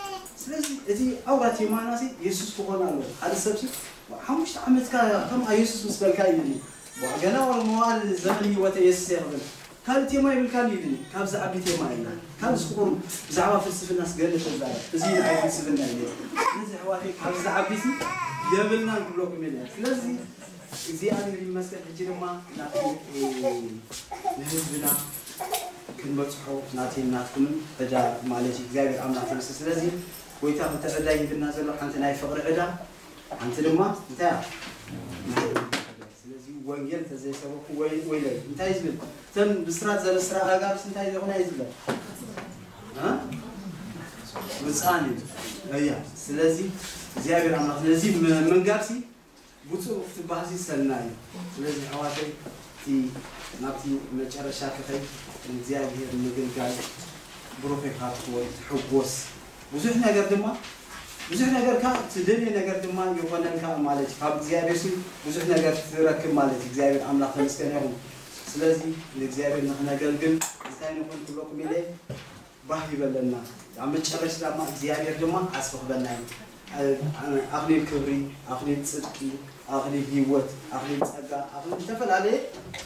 ስለዚ እቲ ኣውራ ቴማና ሲ የሱስ ክኾን ኣለዎ ሓደ ሰብ ሲ ሓሙሽተ ዓመትካ ከምኣ የሱስ ምስ በልካ እዩ ድዩ ገና ዋላ መዋእል ዘመን ህይወተይ የሱሰይ ክብል ካልእ ቴማ ይብልካን እዩ ኢሉኒ ካብ ዝዓቢ ቴማ እዩ ኢላ ካብ ዝክቡር ብዛዕባ ፍልስፍናስ ገለ ተዛረብ እዚ ንዓይ ፍልስፍና እዩ ነይሩ ስለዚ ኣሕዋተይ ካብዚ ዝዓቢሲ የብልናን ክብለኩም እየ ነይረ ስለዚ እግዚኣብሔር ይመስገን ሕጂ ድማ ናተይ ንህዝብና ክንበጽሖ ናተይን ናትኩምን ዕዳ ማለት እዩ እግዚኣብሔር ኣምላክ ተመስገን ስለዚ ጎይታ ክልተ ዕዳ ይህብና ዘሎ ሓንቲ ናይ ፍቅሪ ዕዳ ሓንቲ ድማ እንታይ እያ ናይ ስለዚ ወንጌል እንተ ዘይሰበኹ ወይለይ እንታይ እዩ ዝብል? እተን ብስራት ዘበስራ ኣጋብስ እንታይ ዘይኾና እዩ ዝብለን? ብፅኣን እዩ እያ። ስለዚ እግዚኣብሔር ኣምላኽ ነዚ ምንጋርሲ ብፁዕ ክትበሃልሲ ሰናይ እዩ። ስለዚ ኣሕዋተይ እቲ ናብቲ መጨረሻ ክኸይድ ንእግዚኣብሔር ምግልጋል ብሩኽ ኢኻ ትኾን ትሕጎስ ብዙሕ ነገር ድማ ብዙሕ ነገር ከኣ ትደልዮ ነገር ድማ ይኾነልካ ማለት እዩ ካብ እግዚኣብሔርሲ ብዙሕ ነገር ትረክብ ማለት እዩ እግዚኣብሔር ኣምላኽ ተመስገነ ይኹን ስለዚ ንእግዚኣብሔር ንኽነገልግል እንታይ ንኹን ክብለኩም ኢለ ባህ ይበለና ኣብ መጨረሽታ ድማ እግዚኣብሔር ድማ ዓስቢ ክበና እዩ ኣኽሊል ክብሪ ኣኽሊል ጽድቂ ኣኽሊል ህይወት ኣኽሊል ጸጋ ኣኽሊል ዝተፈላለየ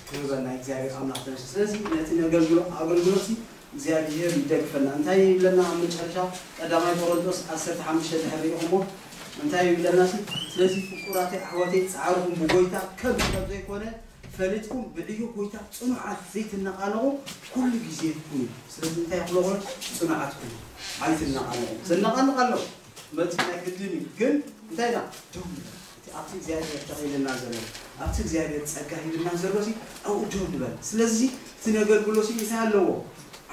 ክህበና እግዚኣብሔር ኣምላኽ ተመስገን ስለዚ ነቲ ነገልግሎ ኣገልግሎት እግዚኣብሄር ይደግፈና እንታይ ይብለና ኣብ መጨረሻ ቀዳማይ ቆረንጦስ ዓሰርተ ሓሙሽተ ድሕር ሪኢኹሞ እንታይ ይብለና ሲ ስለዚ ፍቁራተይ ኣሕዋተይ ጻዕርኹም ብጎይታ ከንቱ ከም ዘይኮነ ፈሊጥኩም ብዕዮ ጎይታ ጽኑዓት ዘይትነቓነቑ ኩሉ ግዜ ኩኑ ስለዚ እንታይ ክሎኹም ጽኑዓት ኩኑ ኣይትነቓነቑ ዘነቓንቕ ኣሎ ክመጽእ ናይ ግድን እዩ ግን እንታይ ኢና ደው ንበል። እቲ ኣብቲ እግዚኣብሄር ተኺልና ዘሎ ኣብቲ እግዚኣብሄር ጸጋ ሂብና ዘሎሲ ኣብኡ ደው ንበል ስለዚሲ እቲ ነገልግሎሲ እንታይ ኣለዎ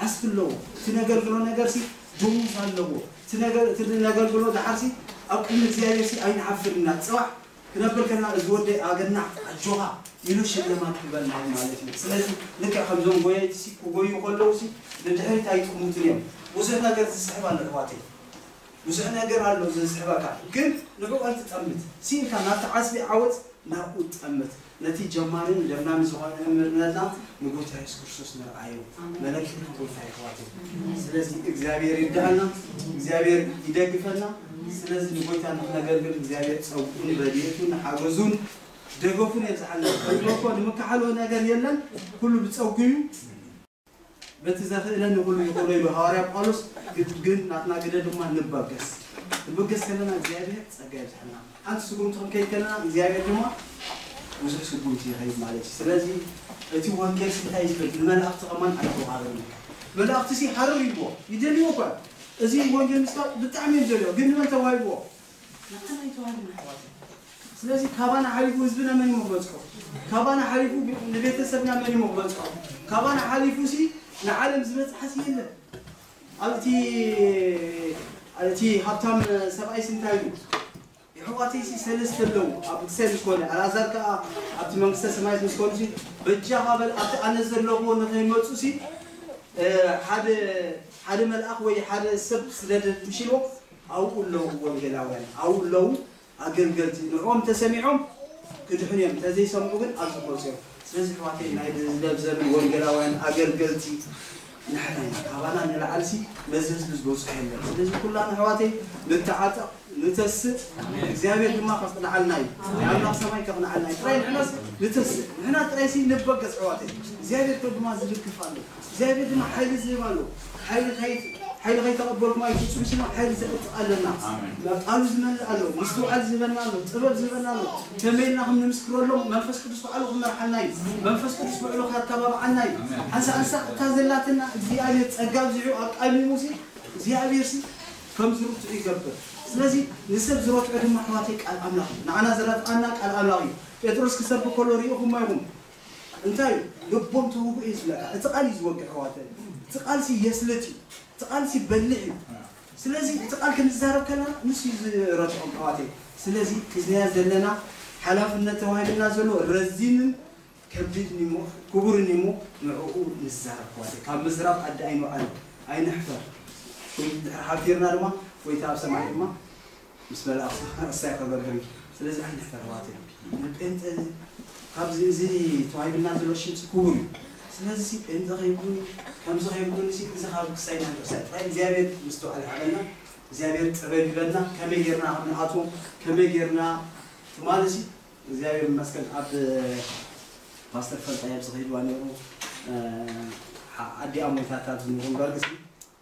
ዓስቢ ኣለዎ እቲ ነገልግሎ ነገርሲ ደሞዝ ኣለዎ እቲ ነገር እቲ ነገልግሎ ደሓርሲ ኣብ ቅድሚ እግዚኣብሄርሲ ኣይንዓፍርን ኢና ጽባሕ ክነብር ከለና እዚ ወደይ ኣገናዕ ኣጆኻ ኢሉ ሽልማት ክበልና እዩ ማለት እዩ ስለዚ ልክዕ ከምዞም ጎየይቲሲ ክጎዩ ከለውሲ ንድሕሪት ኣይጥሙትን እዮም ብዙሕ ነገር ዝስሕብ ኣሎ ኣሕዋተይ ብዙሕ ነገር ኣሎ ዘዝሕበካ ግን ንዕኡ ኣይትጠምት ሲኢንካ ናብቲ ዓስቢ ዓወት ናብኡ ጠምት ነቲ ጀማሪን ለምላሚ ዝኾነ መምህርነትና ንጎይታ የሱስ ክርስቶስ ንርኣዮ መለክትና ጎይታ የሕዋተይ ስለዚ እግዚኣብሔር ይርዳኣና እግዚኣብሔር ይደግፈና ስለዚ ንጎይታ ንክነገልግል እግዚኣብሔር ጸጉኡን ረድኤቱን ሓገዙን ደገፉን የብዝሓልና ንብሎ እኮ ንምካሓሎ ነገር የለን ኩሉ ብጸጉ እዩ በቲ ዘኽእለኒ ኹሉ ይኹኖ ኢሉ ሃዋርያ ጳውሎስ ግድ ግን ናትና ግደ ድማ ንበገስ ንበገስ ከለና እግዚኣብሔር ጸጋ የብዝሐልና ሓንቲ ስጉምቲ ክንከይድ ከለና እግዚኣብሔር ድማ ብዙሕ ስጉምቲ ይኸይድ ማለት እዩ ስለዚ እቲ ወንጌልሲ እንታይ እዩ ዝብል ንመላእኽቲ ከማን ኣይተዋሃበን እዩ መላእኽቲሲ ሃረር ይብዎ ይደልይዎ እኳ እዩ እዚ ወንጌል ምስባክ ብጣዕሚ እዮም ዝደልይዎ ግን ንመን ተዋሂብዎ ንዓና ይተወና ኣሕዋተይ ስለዚ ካባና ሓሊፉ ህዝብና መን ኢሞ ክበጽሖ ካባና ሓሊፉ ንቤተሰብና መን ኢሞ ክበጽሖ ካባና ሓሊፉ ሲ ንዓለም ዝበጽሓ ሲ የለን ኣብ እቲ እቲ ሃብታም ሰብኣይ ሲ እንታይ ኢሉ የሕዋተይ ሲ ሰለስተ ኣለዉ ኣብ ክሰ ምስ ኮነ ኣልኣዛር ከኣ ኣብቲ መንግስተ ሰማያት ምስ ኮኑ ሲ በጃኻ በል ኣብቲ ኣነ ዘለኹዎ ንኸይመጹ ሲ ሓደ ሓደ መልኣኽ ወይ ሓደ ሰብ ስደደልኩም ሲ ኢልዎ ኣብኡ ኣለዉ ወንጌላውያን፣ ኣብኡ ኣለዉ ኣገልገልቲ፣ ንዕኦም እንተ ሰሚዖም ክድሕኑ እዮም፣ እንተ ዘይሰምዑ ግን ኣብ ዝኰጹ እዮም። ስለዚ ኣሕዋተይ፣ ናይዚ ህዝበ ዘመን ወንጌላውያን ኣገልገልቲ ንሕና ኢና፣ ካባና ንላዕሊሲ ነዚ ህዝቢ ዝበጽሖ የለን። ስለዚ ኵላና ኣሕዋተይ ንተዓጠቕ፣ ንተስእ፣ እግዚኣብሄር ድማ ከቕንዓልና እዩ፣ ንኣምላኽ ሰማይ ከቕንዓልና እዩ፣ ጥራይ ንሕናስ ንተስእ፣ ንሕና ጥራይሲ ንበገስ ኣሕዋተይ፣ እግዚኣብሄር ከ ድማ ዝልክፍ ኣሎ። እግዚኣብሔር ድማ ሓይሊ ዝህብ ኣሎ ሓይሊ ከይት ሓይሊ ከይተቀበልኩም ኣይትውጹ ኢልና ሓይሊ ዘዕጥቅ ኣለና ኣሜን። ቃሉ ዝመልእ ኣሎ ምስትውዓል ዝህበና ኣሎ ጥበብ ዝህበና ኣሎ ከመይ ኢልና ከም ንምስክረሎም መንፈስ ቅዱስ ባዕሉ ክመርሓና እዩ መንፈስ ቅዱስ ብዕሉ ከታባብዓና እዩ ኣሜን። ሓንሳእ ሓንሳእ እታ ዘላትና እግዚኣብሔር ጸጋ ኣብዚሑ ኣቃሚሙ ሲ እግዚኣብሔር ሲ ከም ዝርትዑ ይገብር ስለዚ ንሰብ ዝረትዖ ድማ ኣሕዋተይ ቃል ኣምላኽ እዩ ንዓና ዘረትዓና ቃል ኣምላኽ እዩ ጴጥሮስ ክሰብክ ከሎ ሪኢኹሞ ኢኹም እንታይ እዩ ልቦም ተውግኡ እዩ ዝብለካ እቲ ቃል እዩ ዝወግእ ኣሕዋተይ እቲ ቃል ሲ የስልጥ እዩ እቲ ቃል ሲ ይበልዕ እዩ ስለዚ እቲ ቃል ክንዛረብ ከለና ንሱ እዩ ዝረትዖም ኣሕዋተይ ስለዚ ሒዝናዮ ዘለና ሓላፍነት ተዋሂብና ዘሎ ረዚንን ከቢድን እዩ እሞ ክቡርን እዩ እሞ ንዕኡ ንዛረብ ኣሕዋተይ ካብ ምዝራብ ኣዲ ኣይንውዓል ኣይንሕፈር ወይ እንድሕር ሓፊርና ድማ ጎይታ ኣብ ሰማይ ድማ ምስ መላእክቱ እሰይ ከበርህም ስለዚ ዓይነት ኣሕዋት እዮም ን ጴንጠ ካብዚ እዚ ተዋሂብና ዘሎ ሽምሲ ክቡር እዩ ስለዚ ጴንጠ ከይኩን ከምዚ ከይኩን ሲ እዚ ካብ ክሳይና ናብ ክሳይና ጥራይ እግዚኣብሔር ምስትውዓል ይሃበና እግዚኣብሔር ጥበብ ይበልና ከመይ ጌርና ከም ንኣትዎ ከመይ ጌርና ትማሊ ሲ እግዚኣብሔር ይመስገን ኣብ ፓስተር ፈልጣይ ኣብዚ ከይድዋ ነይሩ ኣዲኣ ሞይታታ ዝንሩምበር ግሲ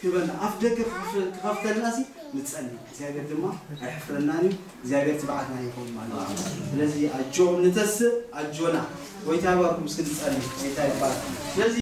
ክበል ኣፍደገ ክኸፍተልናሲ ንጸሊ እግዚኣብሔር ድማ ኣይሕፍረናን እዩ እግዚኣብሔር ትብዓትና ይኹን ማለት እዩ ስለዚ ኣጆኹም ንተስእ ኣጆና ጎይታ ይባርኩም እስኪ ንጸሊ ጎይታ ይባርኩም ስለዚ